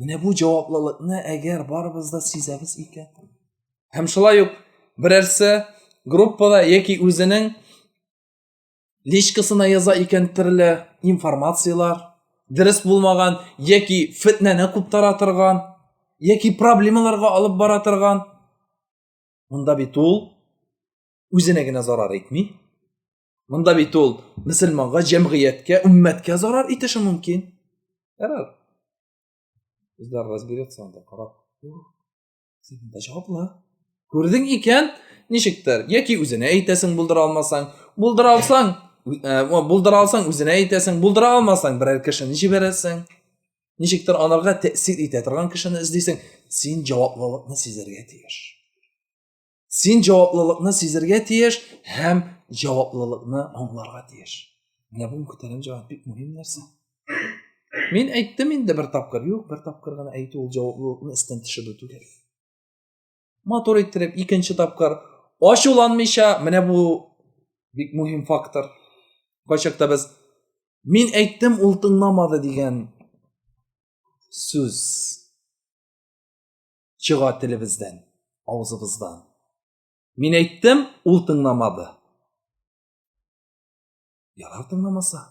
Менә бу җаваплылыкны әгәр барыбыз да сизәбез икән. Һәм шулай ук берәрсе группада яки үзенең личкасына яза икән төрле информацияләр, дөрес булмаган яки фетнәне күп таратырган, яки проблемаларга алып бара торган. Монда бит ул үзенә генә зарар итми, Монда бит ул мөселманга, җәмгыятькә, уммәткә зарар итеше мөмкин. Ярар. Үзләр разберется анда карап. Син монда җаваплы. Күрдең икән, ничектер, яки үзенә әйтәсең булдыра алмасаң, булдыра алсаң, э, булдыра алсаң үзенә әйтәсең, булдыра алмасаң берәр кешене җибәрәсең. Ничектер анарга тәэсир итә торган кешене эзлисең, син җаваплылыкны сизәргә тиеш. син җаваплылыкны сизергә тиеш һәм җаваплылыкны аңларга тиеш менә бу мөхтәрәм җәмәгать бик мөһим нәрсә мин әйттем инде бер тапкыр юк бер тапкыр гына әйтү ул җаваплылыкны эстән төшерү түгел матур иттереп икенче тапкыр ачуланмыйча менә бу бик мөһим фактор кайчакта без мин әйттем ул тыңламады дигән сүз чыга телебездән, авызыбыздан. Мин әйттем, ул тыңламады. Ярар тыңламаса.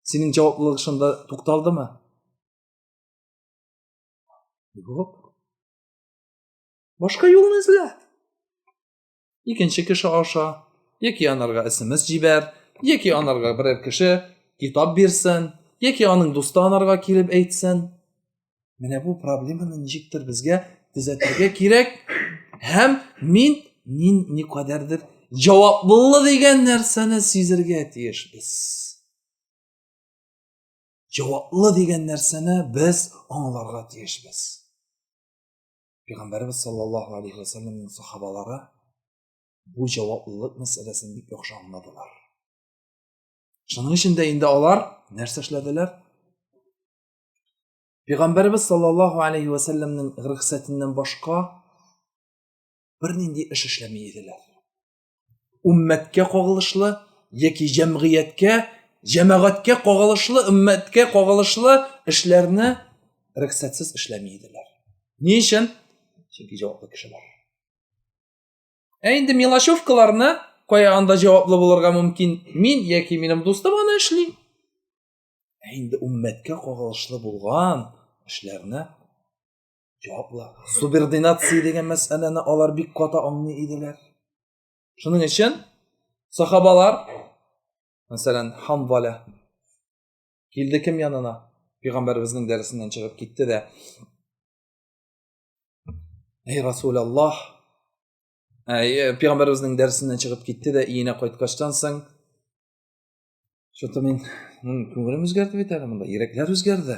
Синең җаваплылык шунда тукталдымы? Юк. Башка юлны эзлә. икенче кеше аша яки анарга смс җибәр яки анарга берәр кеше китап бирсен яки аның дусты анарга килеп әйтсен менә бу проблеманы ничектер безгә төзәтергә кирәк һәм мин мин никадәрдер җаваплы дигән нәрсәне сизергә тиешбез җаваплы дигән нәрсәне без аңларга тиешбез Пәйгамбәрбез саллаллаһу алейхи ва сәлләмнең сахабалары бу җаваплылык мәсьәләсен бик яхшы аңладылар. Шуның өчен дә инде алар нәрсә эшләделәр? Пәйгамбәрбез саллаллаһу алейхи ва сәлләмнең рөхсәтеннән башка бернинди эш эшләми иделәр. Уммәткә кагылышлы яки җәмгыятькә, җәмәгатькә кагылышлы, уммәткә кагылышлы эшләрне рөхсәтсез эшләми иделәр. Ни өчен? Чөнки җаваплы кешеләр. Ә инде мелочевкаларны кая анда җаваплы булырга мөмкин? Мин яки минем дустым аны эшли. Ә инде уммәткә кагылышлы булган эшләрне җаваплар субординация дигән мәсьәләне алар бик каты аңлый иделәр шуның өчен сахабалар мәсәлән ханбаля килде кем янына пәйгамбәребезнең дәресеннән чыгып китте дә әй расул аллах пәйгамбәребезнең дәресеннән чыгып китте дә өенә кайткачтан соң что то мин күңелем үзгәрде бит әле монда йөрәкләр үзгәрде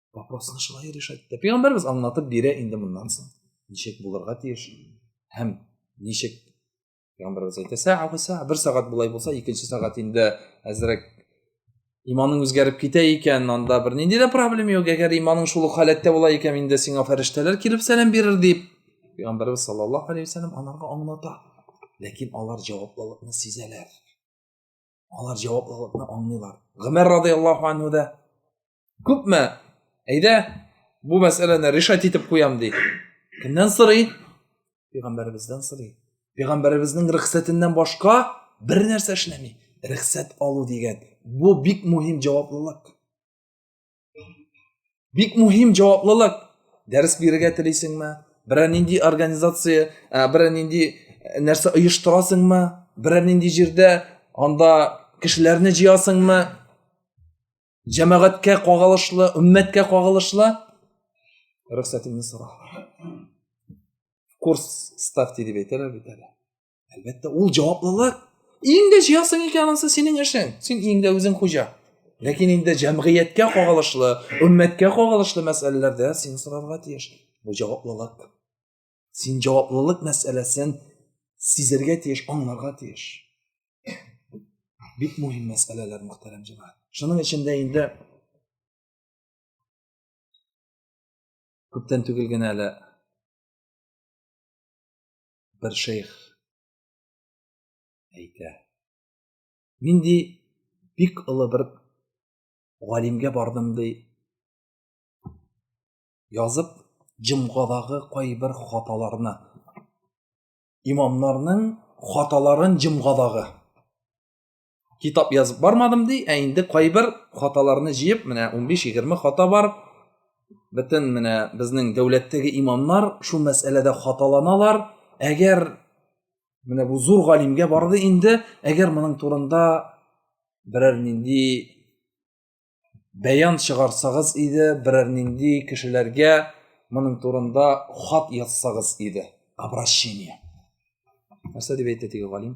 вопросны шулай решать итә пәйгамбәребез аңлатып бирә инде моннан соң ничек булырга тиеш һәм ничек пәйгамбәребез әйтә саа саа бер сәгать болай булса икенче сәгать инде әзрәк иманың үзгәреп китә икән анда бер нинди дә проблема юк әгәр иманың шул ук халәттә була икән инде сиңа фәрештәләр килеп сәлам бирер дип пәйгамбәребез саллаллаху алейхи вассалам аларга аңлата ләкин алар җаваплылыкны сизәләр алар жауаплылыгын аңлыйлар гомәр радиаллаху анху да күпме әйдә бу мәсьәләне решать итеп куям ди кемнән сорый пәйгамбәребездән сорый пәйгамбәребезнең рөхсәтеннән башка бер нәрсә эшләми рөхсәт алу дигән бу бик мөһим җаваплылык бик мөһим җаваплылык дәрес бирергә телисеңме берәр нинди организация ә, берәр нинди ә, нәрсә оештырасыңмы берәр нинди җирдә анда кешеләрне җыясыңмы җәмәгатькә кагылышлы өммәткә кагылышлы рөхсәтеңне сора курс ставьте дип әйтәләр бит әле әлбәттә ул җаваплылык иң дә җыясың икән анысы синең эшең син иң дә үзең хуҗа ләкин инде җәмгыятькә кагылышлы өммәткә кагылышлы мәсьәләләрдә син сорарга тиеш бу җаваплылык син җаваплылык мәсьәләсен сизергә тиеш аңларга тиеш бик мөһим мәсьәләләр мөхтәрәм җәмәгать шуның эчендә инде күптән түгел генә әле бер шейх әйтә. Мин ди бик олы бер галимгә бардым ди. Язып җомгадагы кайбер хаталарны имамнарның хаталарын җомгадагы китап язып бармадым ди ә инде кайбер хаталарны җыеп менә 15-20 хата бар бөтен менә безнең дәүләттәге имамнар шул мәсьәләдә хаталаналар әгәр менә бу зур галимгә барды инде әгәр моның турында берәр нинди бәян чыгарсагыз иде берәр нинди кешеләргә моның турында хат язсагыз иде обращение нәрсә дип әйтте теге галим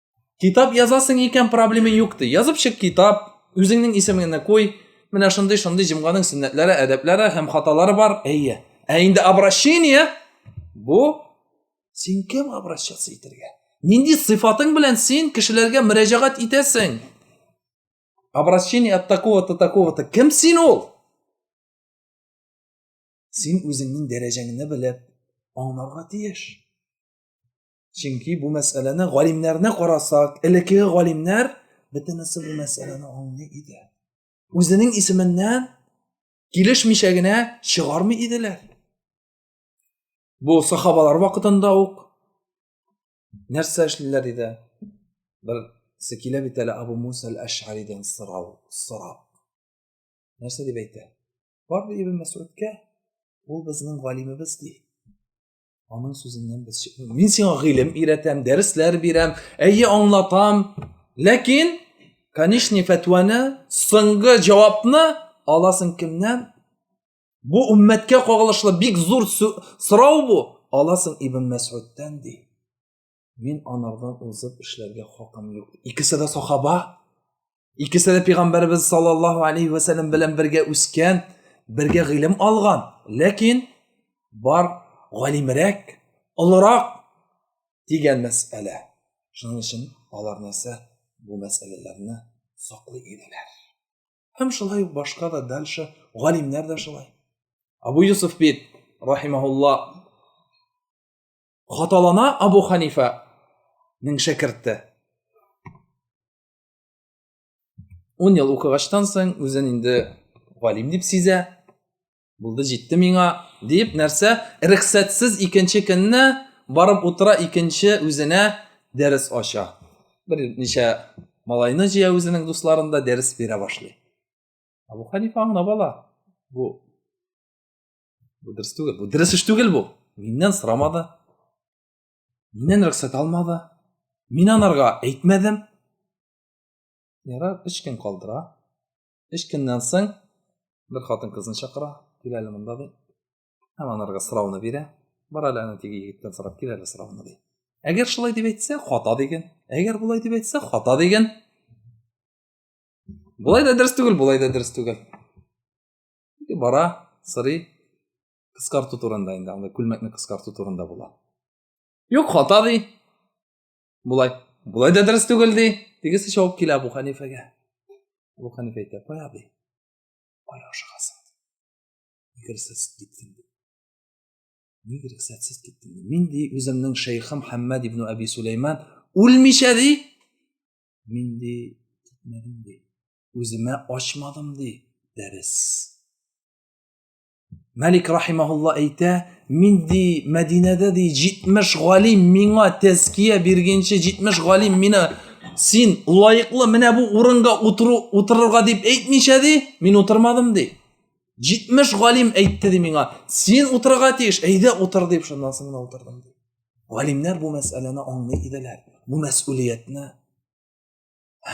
китап язасың икән проблема юк ди язып чык китап үзеңнең исемеңне куй менә шундый шундый җомганың сөннәтләре әдәпләре һәм хаталары бар әйе ә инде обращение бу син кем обращаться итәргә нинди сыйфатың белән син кешеләргә мөрәҗәгать итәсең обращение от такого то такого то кем син ул син үзеңнең дәрәҗәңне белеп аңларга тиеш чөнки бу мәсьәләне галимнәрне карасак элеккеге галимнәр бөтенесе бу мәсьәләне аңлый иде үзенең исеменнән килешмичә генә чыгармый иделәр бу сахабалар вакытында ук нәрсә эшлиләр иде берсе килә бит әле абу муса әл әшаридән сорау сорап нәрсә дип әйтә бар ди ибн мәсудка ул безнең галимебез ди Аның сүзеннән без чыкмыйбыз. Мин сиңа гыйлем өйрәтәм, дәресләр бирәм, әйе аңлатам. Ләкин конечный фәтваны, соңгы җавапны аласың кемнән? Бу уммәткә кагылышлы бик зур сорау бу. Аласың Ибн Мәсгудтан ди. Мин анардан узып эшләргә хакым юк. Икесе дә сахаба. Икесе дә пәйгамбәрбез саллаллаһу алейхи ва саллям белән бергә үскән, бергә гыйлем алган. Ләкин бар галимрәк, олырак дигән мәсьәлә. Шуның өчен алар нәрсә бу мәсьәләләрне саклый иделәр. Һәм шулай ук башка да дальше галимнәр дә шулай. Абу Юсуф бит рахимаһулла хаталана Абу Ханифаның шәкерте. Ун ел укыгачтан соң үзен инде галим дип сизә. Булды җитте миңа дип нәрсә? Рөхсәтсез икенче көнне барып утыра икенче үзенә дәрес ача. Бер ничә малайны җыя үзенең дусларында дәрес бирә башлый. Абу Ханифа аңлап ала. Бу бу дөрес түгел бу дөрес эш түгел бу миннән сорамады миннән рөхсәт алмады мин анарга әйтмәдем ярар өч көн калдыра өч көннән соң бер хатын кызны чакыра кил әле монда ди һәм анарга сорауны бирә бар әле ана теге егеттән сорап кил әле сорауны ди әгәр шулай дип әйтсә хата диген әгәр болай дип әйтсә хата диген болай да дөрес түгел болай да дөрес түгел бара сорый кыскарту турында инде анда күлмәкне кыскарту турында була юк хата ди болай болай да дөрес түгел ди тегесе шауып килә абу хәнифәгә абу хәнифә әйтә кай абый кая ашыгасың нигә рөхсәтсез киттең ди нигә рөхсәтсез киттең ди мин ди үземнең шәйхым хәммәд ибн әби суләйман үлмичә ди мин ди китмәдем ди үземә ачмадым ди дәрес Мәлик рахимаһулла әйтә, мин ди Мәдинәдә ди 70 галим миңа тәзкия биргенче 70 галим мине син лаеклы менә бу урынга утыру утырырга дип әйтмичә ди, мин утырмадым ди. 70 галим әйтте ди миңа, син утырырга тиеш, әйдә утыр дип шуннан соң утырдым ди. Галимнәр бу мәсьәләне аңлый иделәр. Бу мәсьулиятне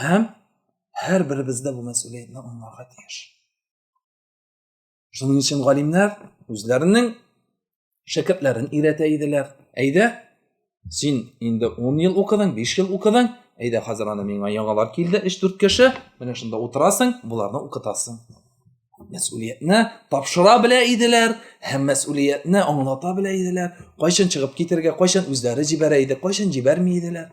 һәм һәр беребез дә бу мәсьүлиятне аңларга тиеш шуның өчен галимнәр үзләренең шәкертләрен өйрәтә иделәр әйдә син инде ун ел укыдың биш ел укыдың әйдә хәзер аны миңа яңалар килде өч дүрт кеше менә шунда утырасың боларны укытасың мәсьүлиятне тапшыра белә иделәр һәм мәсьүлиятне аңлата белә иделәр кайчан чыгып китергә кайчан үзләре җибәрә иде кайчан җибәрми иделәр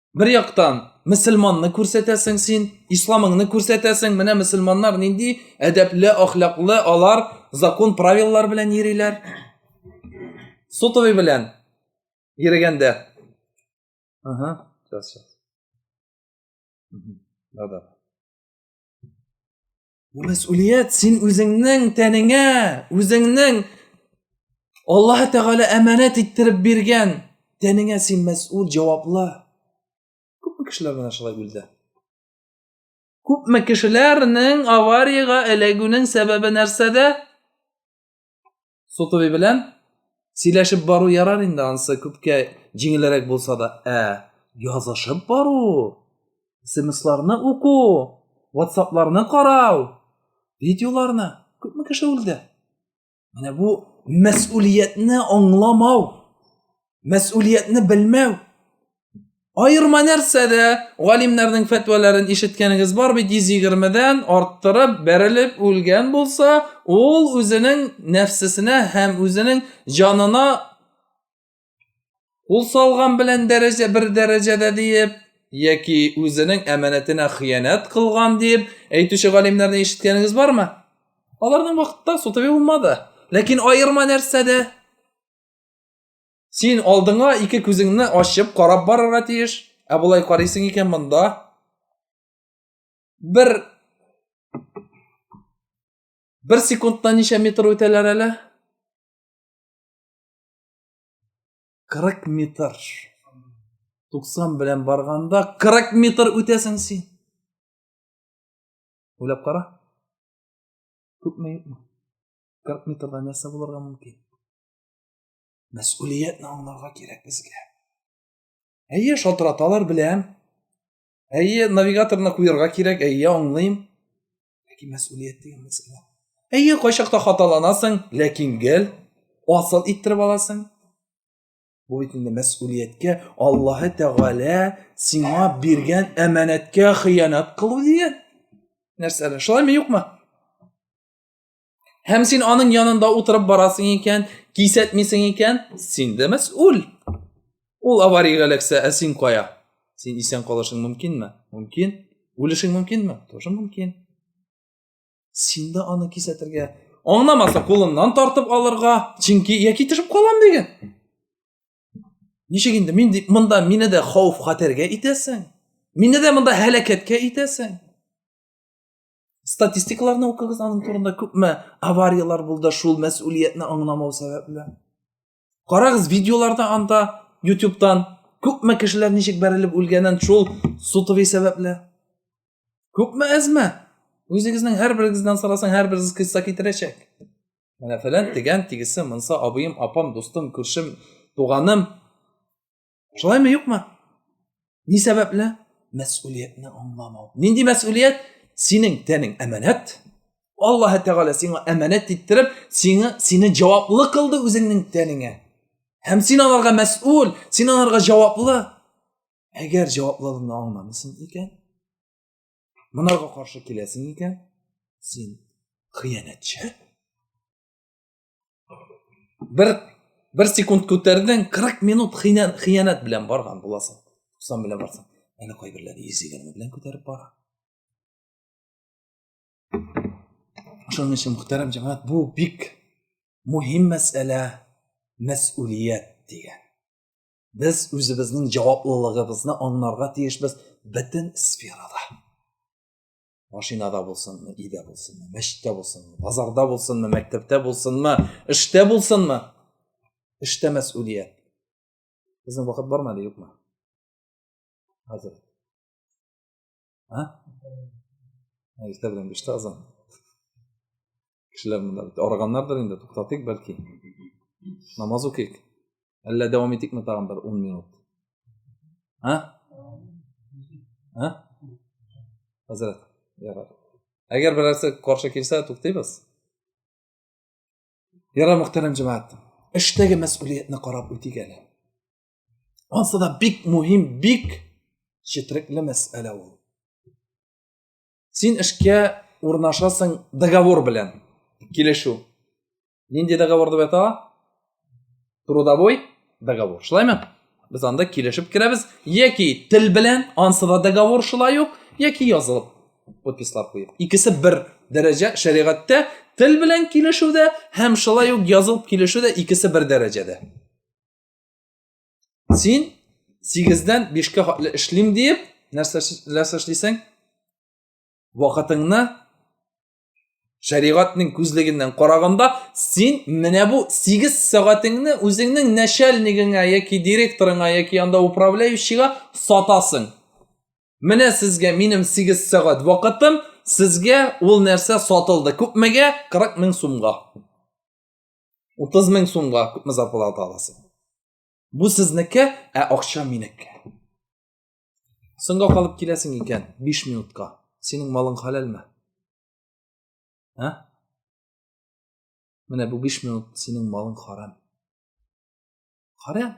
Бер яктан, мөселманны күрсәтәсең син, исламыңны күрсәтәсең. Менә мөселманнар нинди әдәпле, ахлаклы, алар закон правилалар белән йөриләр. Сотовый белән йөргәндә. Ага, сейчас, сейчас. Да-да. Бу мәсьулият син үзеңнең тәнеңә, үзеңнең Аллаһ Тәгалә әманәт иттереп биргән тәнеңә син мәсьул, җаваплы. Күпме кешеләр менә шулай үлде? Күпме кешеләрнең авариягә эләгүнең сәбәбе нәрсәдә? сотови белән сөйләшеп бару ярар инде анысы күпкә җиңелрәк булса да ә язышып бару смсларны уку ватсапларны карау видеоларны күпме кеше үлде менә бу мәсулиятне аңламау мәсулиятне белмәү аерма нәрсәдә галимнәрнең фәтвәләрен ишеткәнегез бар бит йөз егермедән арттырып бәрелеп үлгән булса ул үзенең нәфсесенә һәм үзенең җанына кул салган белән дәрәҗә бер дәрәҗәдә диеп яки үзенең әманәтенә хыянәт кылган диеп әйтүче галимнәрне ишеткәнегез бармы аларның вакытта сутави булмады ләкин аерма нәрсәдә Син алдыңа ике күзеңне ачып карап барырга тиеш. Ә болай карыйсың икән монда. Бер Бер секундта ничә метр үтәләр әле? 40 метр. 90 белән барганда 40 метр үтәсең син. Уйлап кара. Күпме юкмы? 40 метрда нәрсә булырга мөмкин? Мәсулиятне аңларга кирәк безгә. Әйе, шалтыраталар беләм. Әйе, навигаторны куярга кирәк, әйе, аңлыйм. Ләкин мәсулият дигән мәсьәлә. Әйе, кайчакта хаталанасың, ләкин гел асыл иттереп аласың. Бу бит инде мәсулияткә Аллаһы Тәгалә сиңа биргән әманәткә хыянат кылу дигән нәрсәләр. Шулаймы, юкмы? Һәм син аның янында утырып барасың икән, кисәтмисең икән, син дә мәсул. Ул авария эләксә, ә син кая? Син исән калышың мөмкинме? Мөмкин. Үлешең мөмкинме? Тоже мөмкин. Син дә аны кисәтергә, аңламаса кулыннан тартып алырга, чөнки яки төшеп калам дигән. Ничек инде мин дип монда мине дә хауф-хәтергә итәсең? Мине дә монда һәлакәткә итәсең? статистикаларны укыгыз аның турында күпме авариялар булды шул мәсулиятне аңламау сәбәпле карагыз видеоларда анда ютубтан күпме кешеләр ничек бәрелеп үлгәнен шул сутови сәбәпле күпме әзме үзегезнең һәрберегездән сорасаң һәрберегез кыйсса китерәчәк менә фәлән дигән тигесе монса абыем апам дустым күршем туганым Шулай ме, юкмы? Ни сәбәпле? Мәсулиятне аңламау. Нинди мәсулият? Синең тәнең әманәт. Аллаһ Тәгалә сиңа әманәт иттереп, сиңа сине җаваплы кылды үзеңнең тәнеңә. Һәм син аларга мәсул, син аларга җаваплы. Әгәр җаваплылыгыңны аңламыйсың икән, монарга каршы киләсең икән, син хыянәтче. бер бер секунд күтәрдең кырык минут хыянәт белән барган буласың хусан белән барсаң әнә кайберләре йөз егерме белән күтәреп бара шуның өчен мөхтәрәм җәмәгать бу бик мөһим мәсьәлә мәсьулият дигән без үзебезнең җаваплылыгыбызны аңларга тиешбез бөтен сферада машинада булсынмы өйдә булсынмы мәчеттә булсынмы базарда булсынмы мәктәптә булсынмы эштә булсынмы эштә мәсулият безнең вакыт бармы әле юкмы хәзер а иртә белән биште азан кешеләр монда бит арыганнардыр инде туктатыйк бәлки намаз укыйк әллә дәвам итикме тагын бер ун минут а а хәзрәт ярар әгәр берәрсе каршы килсә туктыйбыз ярар мөхтәрәм җәмәгать эштәге мәсьулиятне карап үтик әле анысы да бик мөһим бик четерекле мәсьәлә ул Син эшкә урнашасың договор белән. Килешү. Нинди договор дип әйтә? Трудовой договор. Шулаймы? Без анда килешеп керәбез. Яки тел белән, ансы да договор шулай ук, яки язылып подпислар куеп. Икесе бер дәрәҗә шәригатьтә тел белән килешүдә һәм шулай ук язылып килешүдә икесе бер дәрәҗәдә. син сигездән бишкә хәтле эшлим диеп нәрсә эшлисең вакытыңны шәригатьнең күзлегеннән караганда син менә бу сигез сәгатеңне үзеңнең начальнигыңа яки директорыңа яки анда управляющийга сатасың менә сезгә минем сигез сәгать вакытым сезгә ул нәрсә сатылды күпмегә 40 мең сумга 30 мең сумга күпме зарплата аласың? Бу сезнеке, ә акча минеке. Соңга калып киләсең икән 5 минутка. Синең малың хәләлме? Ә? Менә бу 5 минут синең малың харам. Харам.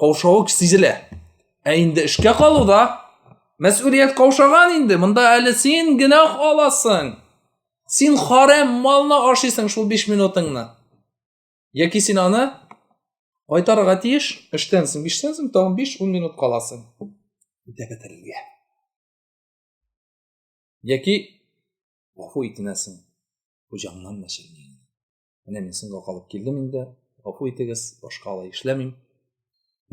каушавы сизелә ә инде эшкә калуда мәсүлият каушаган инде монда әле син генә аласың син харәм малны ашыйсың шул биш минутыңны яки син аны кайтарырга тиеш эштән соң биштән соң тагын биш ун минут каласың үтә бетерергә яки гафу итенәсең хуҗаңнан мәшәкать Менә мин соңга калып килдем инде. Гафу итегез, башка алай эшләмим.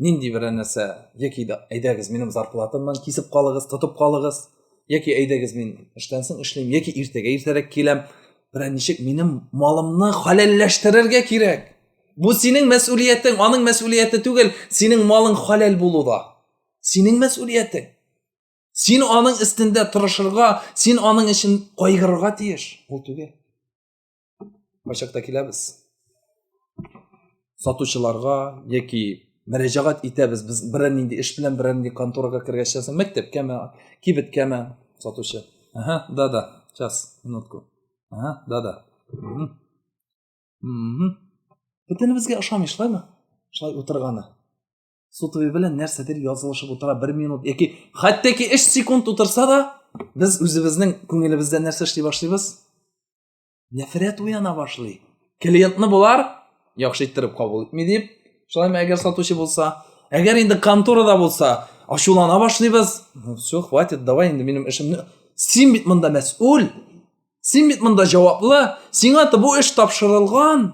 Нинди берәр нәрсә, яки дә әйдәгез минем зарплатамнан кисеп калыгыз, тотып калыгыз, яки әйдәгез мин эштән соң эшлим, яки иртәгә иртәрәк киләм. Берәр ничек минем малымны халәлләштерергә кирәк. Бу синең мәсьулиятең, аның мәсьулияте түгел, синең малың халәл булу да. Синең мәсьулиятең. Син аның өстендә тырышырга, син аның өчен кайгырырга тиеш. Ул түгел. кайчакта киләбез сатучыларга яки мөрәҗәгать итәбез без берәр нинди эш белән берәр нинди конторага кергәч ясам мәктәпкәме кибеткәме сатучы ага да да сейчас минутку ага да да бөтенебезгә ошамый шулаймы шулай утырганы сотовый белән нәрсәдер язылышып утыра бер минут яки хәтта ки өч секунд утырса да без үзебезнең күңелебездә нәрсә эшли башлыйбыз нәфрәт уяна башлый клиентны болар яхшы иттереп кабул итми дип шулай ма әгәр сатучы булса әгәр инде конторада булса ачулана башлыйбыз ну все хватит давай инде минем эшемне син бит монда мәсул син бит монда җаваплы сиңа бу эш тапшырылган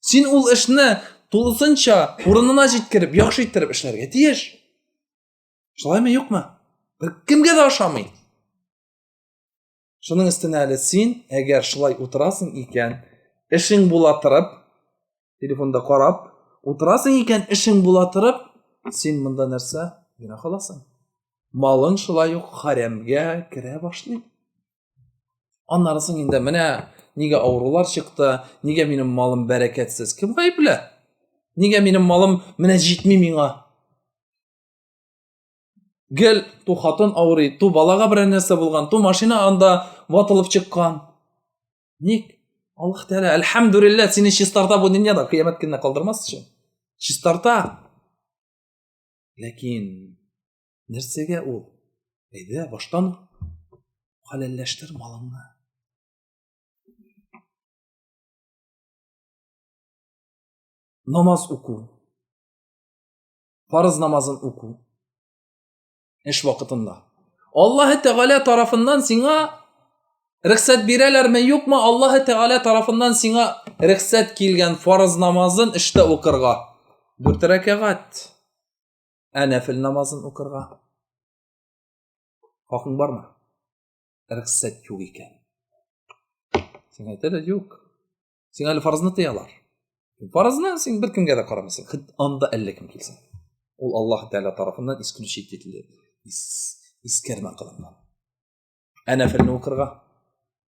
син ул эшне тулысынча урынына җиткереп яхшы иттереп эшләргә тиеш шулаймы юкмы кемгә дә ошамый Шуның өстенә әле син, әгәр шулай утырасың икән, эшең була торып, телефонда карап, утырасың икән, эшең була торып, син монда нәрсә? Генә халасың. Малың шулай ук харамгә керә башлый. Аннары соң инде менә нигә авырулар чыкты, нигә минем малым бәрәкәтсез? Кем гаепле? Нигә минем малым менә җитми миңа? гел ту хатын авырый, ту балага берәр нәрсә булган, ту машина анда ватылып чыккан. Ник? Аллаһ Тәгалә, әлхәмдүлилләһ, сине чистарта бу дөньяда, кыямәт көненә калдырмас өчен. Чистарта. Ләкин нәрсәгә ул? Әйдә, баштан хәләлләштер малыңны. Намаз уку. Парыз намазын уку. Эш вакытында. Аллаһы Тәгалә тарафыннан сиңа рөхсәт бирәләрме, юкмы? Аллаһы Тәгалә тарафыннан сиңа рөхсәт килгән фарыз намазын эштә укырга. Дүрт рәкәгать. Ә нәфил намазын укырга. Хакың бармы? Рөхсәт юк икән. Сиңа әйтәләр, юк. син әле фарызны тыялар фарызны син бер кемгә дә карамыйсың хит анда әллә кем килсен ул аллаһ тәғәлә тарафыннан исключить ителде искәрмә кылынган ә нәфелне укырга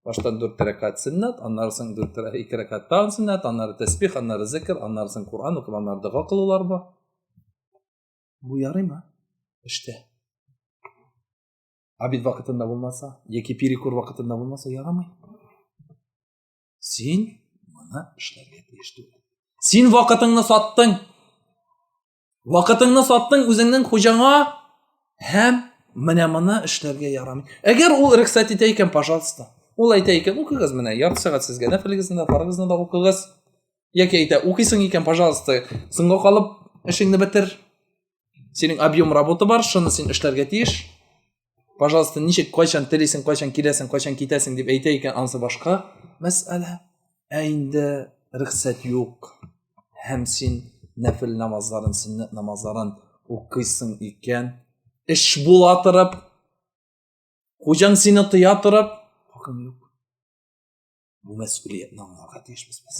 баштан дүрт рәкат сөннәт аннары соң дүрт ике рәкат тагын сөннәт аннары тәсбих аннары зикр аннары соң коран укып аннары дога кылулар бар бу ярыймы эштә обед вакытында булмаса яки перекур вакытында булмаса ярамый син моны эшләргә тиеш түгел син вакытыңны саттың вакытыңны саттың үзеңнең хуҗаңа һәм менә моны эшләргә ярамый әгәр ул рөхсәт итә икән пожалуйста ул әйтә икән укыгыз менә ярты сәгать сезгә нәфелегезне дә фарыгызны да укыгыз яки әйтә укыйсың икән пожалуйста соңга калып эшеңне бетер синең объем работа бар шуны син эшләргә тиеш пожалуйста ничек кайчан телисең кайчан киләсең кайчан китәсең дип әйтә икән анысы башка мәсьәлә ә инде рөхсәт юк һәм син нәфел намазларын сөннәт намазларын укыйсың икән эш була торып хуҗаң сине тыя торып хакың юк бу мәсьәләне аңларга тиешбез без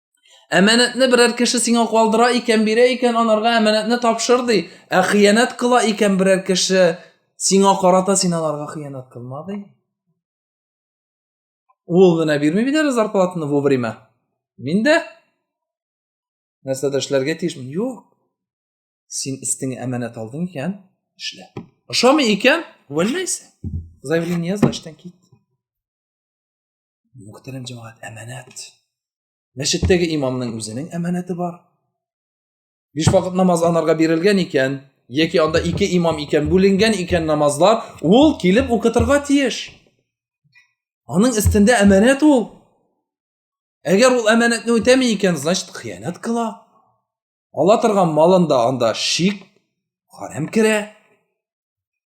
Әманәтне берәр кеше сиңа калдыра икән, бирә икән, анарга әманәтне тапшыр ди. Ә хыянәт кыла икән берәр кеше сиңа карата син аларга хыянәт кылма ди. Ул гына бирми бит әле зарплатаны вовремя. Мин дә нәрсә дә эшләргә тиешмен. Юк. Син истиңе әманәт алдың икән, эшлә. Ошамый икән, вәлләйсә. Заявление яз, эштән кит. Мөхтәрәм җәмәгать, әманәт. Мәчеттәге имамның үзенең әманәте бар. Биш вакыт намаз анарга бирелгән икән, яки анда ике имам икән, бүленгән икән намазлар, ул килеп укытырга тиеш. Аның өстендә әманәт ул. Әгәр ул әманәтне үтәми икән, значит, хыянәт кыла. Ала торган малында анда шик, харам керә.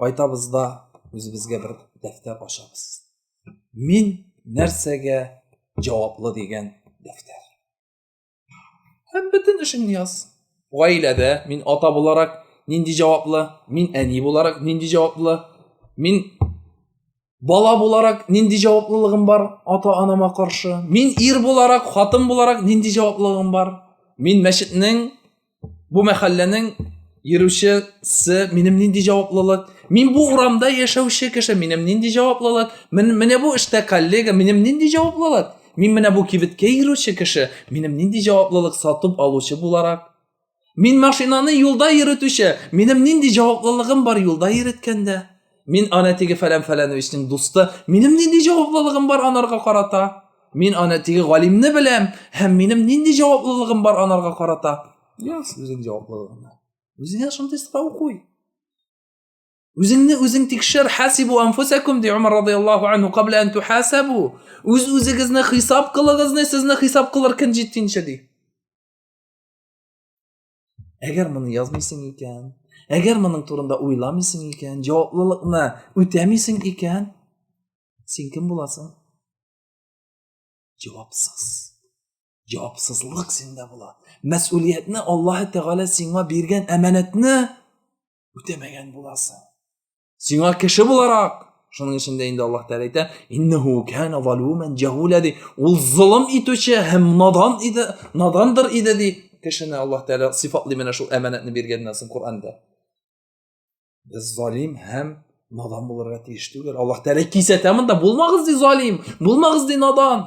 кайтабыз да үзебезгә бер дәфтәр ачабыз мин нәрсәгә җаваплы дигән дәфтәр һәм бөтен эшеңне яз гаиләдә мин ата буларак нинди җаваплы мин әни буларак нинди җаваплы мин Бала буларак нинди җаваплылыгым бар ата-анама каршы? Мин ир буларак, хатын буларак нинди җаваплылыгым бар? Мин мәчетнең, бу мәхәлләнең йөрүчесе, минем нинди җаваплылык? Мин бу урамда яшәүче кеше, минем нинди җаваплылык? Мин, менә бу эштә коллега, минем нинди җаваплылык? Мин менә бу кибеткә йөрүче кеше, минем нинди җаваплылык сатып алучы буларак? Мин машинаны юлда йөрүтүче, минем нинди җаваплылыгым бар юлда йөрткәндә? Мин ана теге фәлән фәләновичның дусты, минем нинди җаваплылыгым бар анарга карата? Мин ана теге галимне беләм, һәм минем нинди җаваплылыгым бар анарга карата? Яс үзең җаваплылыгыңны. Үзеңә шундый сорау куй. Үзеңне үзең тикшер, хасибу анфусакум ди Умар радияллаху анху кабла ан тухасабу. Үз үзегезне хисап кылыгызны, сезне хисап кылыр көн җиткенче ди. Әгәр моны язмыйсың икән, әгәр моның турында уйламыйсың икән, җаваплылыкны үтәмисең икән, син кем буласың? Җавапсыз. Җавапсызлык синдә була. Мәсъулиятне Аллаһ Тәгалә сиңа биргән әманәтне үтәмәгән буласың сиңа кеше буларак шуның өчен дә инде аллаһ тәғәлә әйтә иннәһу кәна валюмән җәһүлә ди ул золым итүче һәм надан иде надандыр иде ди кешене аллаһ тәғәлә сыйфатлый менә шул әманәтне биргәннән соң коранда без залим һәм надан булырга тиеш түгел аллаһ тәғәлә кисәтә монда булмагыз ди залим булмагыз ди надан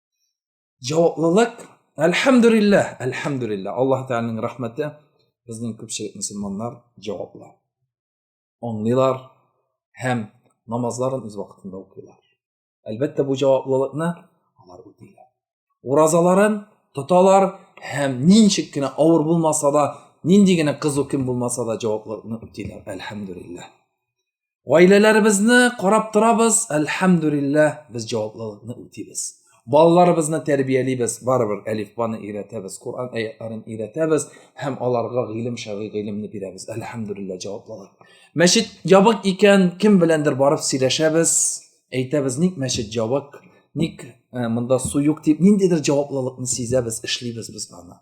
Җаваплылык, әлхәмдүлиллә, әлхәмдүлиллә, Аллаһ Тәгаләнең рәхмәте, безнең күпчелек мөселманнар җаваплы. Аңлыйлар һәм намазларын үз вакытында укыйлар. Әлбәттә, бу җаваплылыкны алар үтиләр. Уразаларын тоталар һәм ничек кенә авыр булмаса да, нинди генә кызу кем булмаса да җаваплылыкны үтиләр. Әлхәмдүлиллә. гаиләләребезне карап торабыз әлхәмдүлиллә без җаваплылыкны үтибез балаларыбызны тәрбиялибез барыбер әлифбаны өйрәтәбез коран аятларын өйрәтәбез һәм аларга гыйлем шәргый гыйлемне бирәбез әлхәмдүлиллә җаваплылык мәчет ябык икән кем беләндер барып сөйләшәбез әйтәбез ник мәчет ябык ник ә, монда су юк дип ниндидер җаваплылыкны сизәбез эшлибез без аны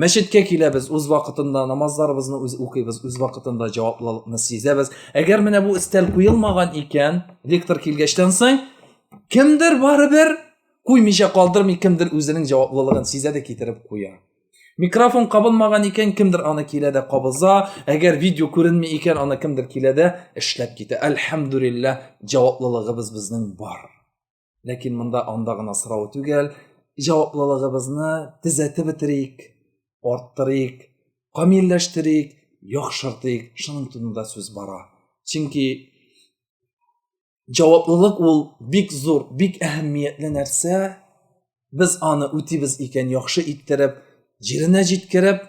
мәчеткә киләбез үз вакытында намазларыбызны үз укыйбыз үз вакытында җаваплылыкны сизәбез әгәр менә бу өстәл куелмаган икән лектор килгәчтән соң кемдер барыбер куймыйча калдырмый кемдер үзенең җаваплылыгын сизә дә китереп куя микрофон кабынмаган икән кемдер аны килә дә кабыза әгәр видео күренми икән аны кемдер килә дә эшләп китә әлхәмдүлиллә җаваплылыгыбыз безнең бар Ләкин монда анда гына сорау түгел, җаваплылыгыбызны төзәтеп бетерик, арттырыйк, камилләштерик, яхшыртыйк, шуның турында сүз бара. Чөнки җаваплылык ул бик зур, бик әһәмиятле нәрсә. Без аны үтибез икән, яхшы иттереп, җиренә җиткереп,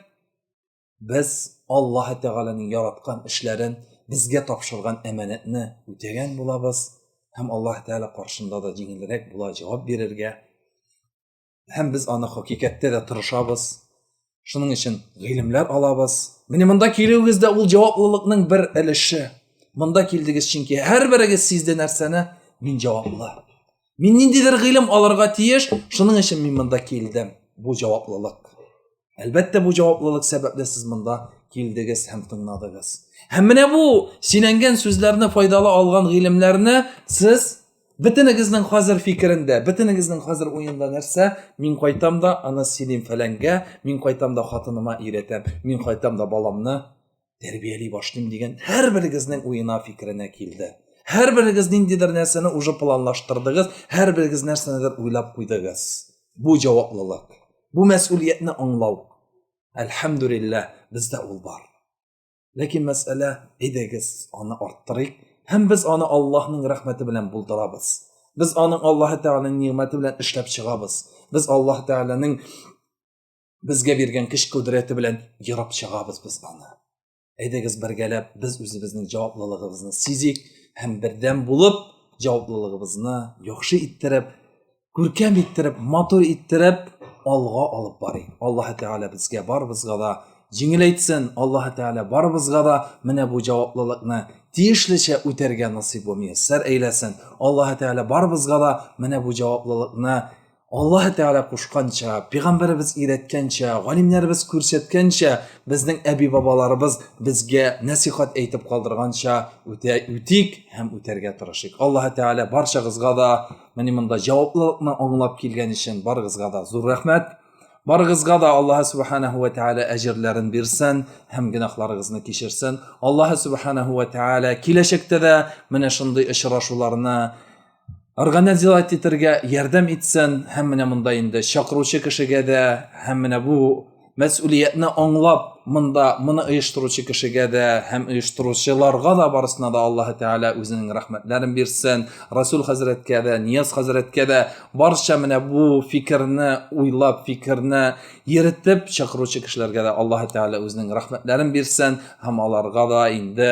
Без Аллаһы Тәгаләнең яраткан эшләрен, безгә тапшырган әманәтне үтәгән булабыз һәм Аллаһ Тәгалә каршында да җиңелрәк була җавап бирергә. Һәм без аны хакыйкатьтә дә тырышабыз. Шуның өчен гыйлемләр алабыз. Менә монда килүегез дә ул җаваплылыкның бер өлеше. Монда килдегез, чөнки һәрберегез сизде нәрсәне, мин җаваплы. Мин ниндидер гыйлем алырга тиеш, шуның өчен мин монда килдем. Бу җаваплылык. Әлбәттә, бу җаваплылык сәбәпле сез монда килдегез һәм тыңладыгыз. Һәм менә бу сөйләнгән сүзләрне файдалы алган гыйлемләрне сез бөтенегезнең хәзер фикерендә, бөтенегезнең хәзер уенда нәрсә? Мин кайтам да аны сөйлим фәләнгә, мин кайтам да хатыныма өйрәтәм, мин кайтам да баламны тәрбияли башлыйм дигән һәрберегезнең уена фикеренә килде һәрберегез ниндидер нәрсәне уже планлаштырдыгыз һәрберегез нәрсәнедер уйлап куйдыгыз бу җаваплылык бу мәсүлиятне аңлау әлхәмдүлиллә бездә ул бар ләкин мәсьәлә әйдәгез аны арттырыйк һәм без аны аллаһның рәхмәте белән булдырабыз без аның аллаһы тәгаләнең нигъмәте белән эшләп чыгабыз без аллаһ тәгаләнең Безгә биргән көч кодрәте белән ерып чыгабыз без аны. Әйдәгез бергәләп без үзебезнең җаваплылыгыбызны сизик һәм бердәм булып җаваплылыгыбызны яхшы иттереп, күркәм иттереп, матур иттереп алга алып барыйк. Аллаһ Тәгалә безгә барыбызга да җиңел әйтсен. Аллаһ Тәгалә барыбызга да менә бу җаваплылыкны тиешлечә үтәргә насыйп булмый. Сәр әйләсен. Аллаһ Тәгалә барыбызга да менә бу җаваплылыкны Аллаһ Тәгалә кушканча, пәйгамбәребез өйрәткәнчә, галимнәребез күрсәткәнчә, безнең әби-бабаларыбыз безгә нәсихат әйтеп калдырганча үтә үтик һәм үтәргә тырышыйк. Аллаһ Тәгалә барчагызга да менә монда җаваплылыкны аңлап килгән өчен барыгызга да зур рәхмәт. Барыгызга да Аллаһ Субханаһу ва Тәгалә әҗерләрен бирсен һәм гөнаһларыгызны кичерсен. Аллаһ Субханаһу ва Тәгалә киләчәктә дә менә шундый очрашуларны организовать итәргә ярдәм итсен һәм менә монда инде чакыручы кешегә дә һәм менә бу мәсьулиятне аңлап монда моны оештыручы кешегә дә һәм оештыручыларга да барысына да аллаһы тәгалә үзенең рәхмәтләрен бирсен расул хәзрәткә дә нияз хәзрәткә дә барча менә бу фикерне уйлап фикерне йөртеп чакыручы кешеләргә дә аллаһы тәгалә үзенең рәхмәтләрен бирсен һәм аларга да инде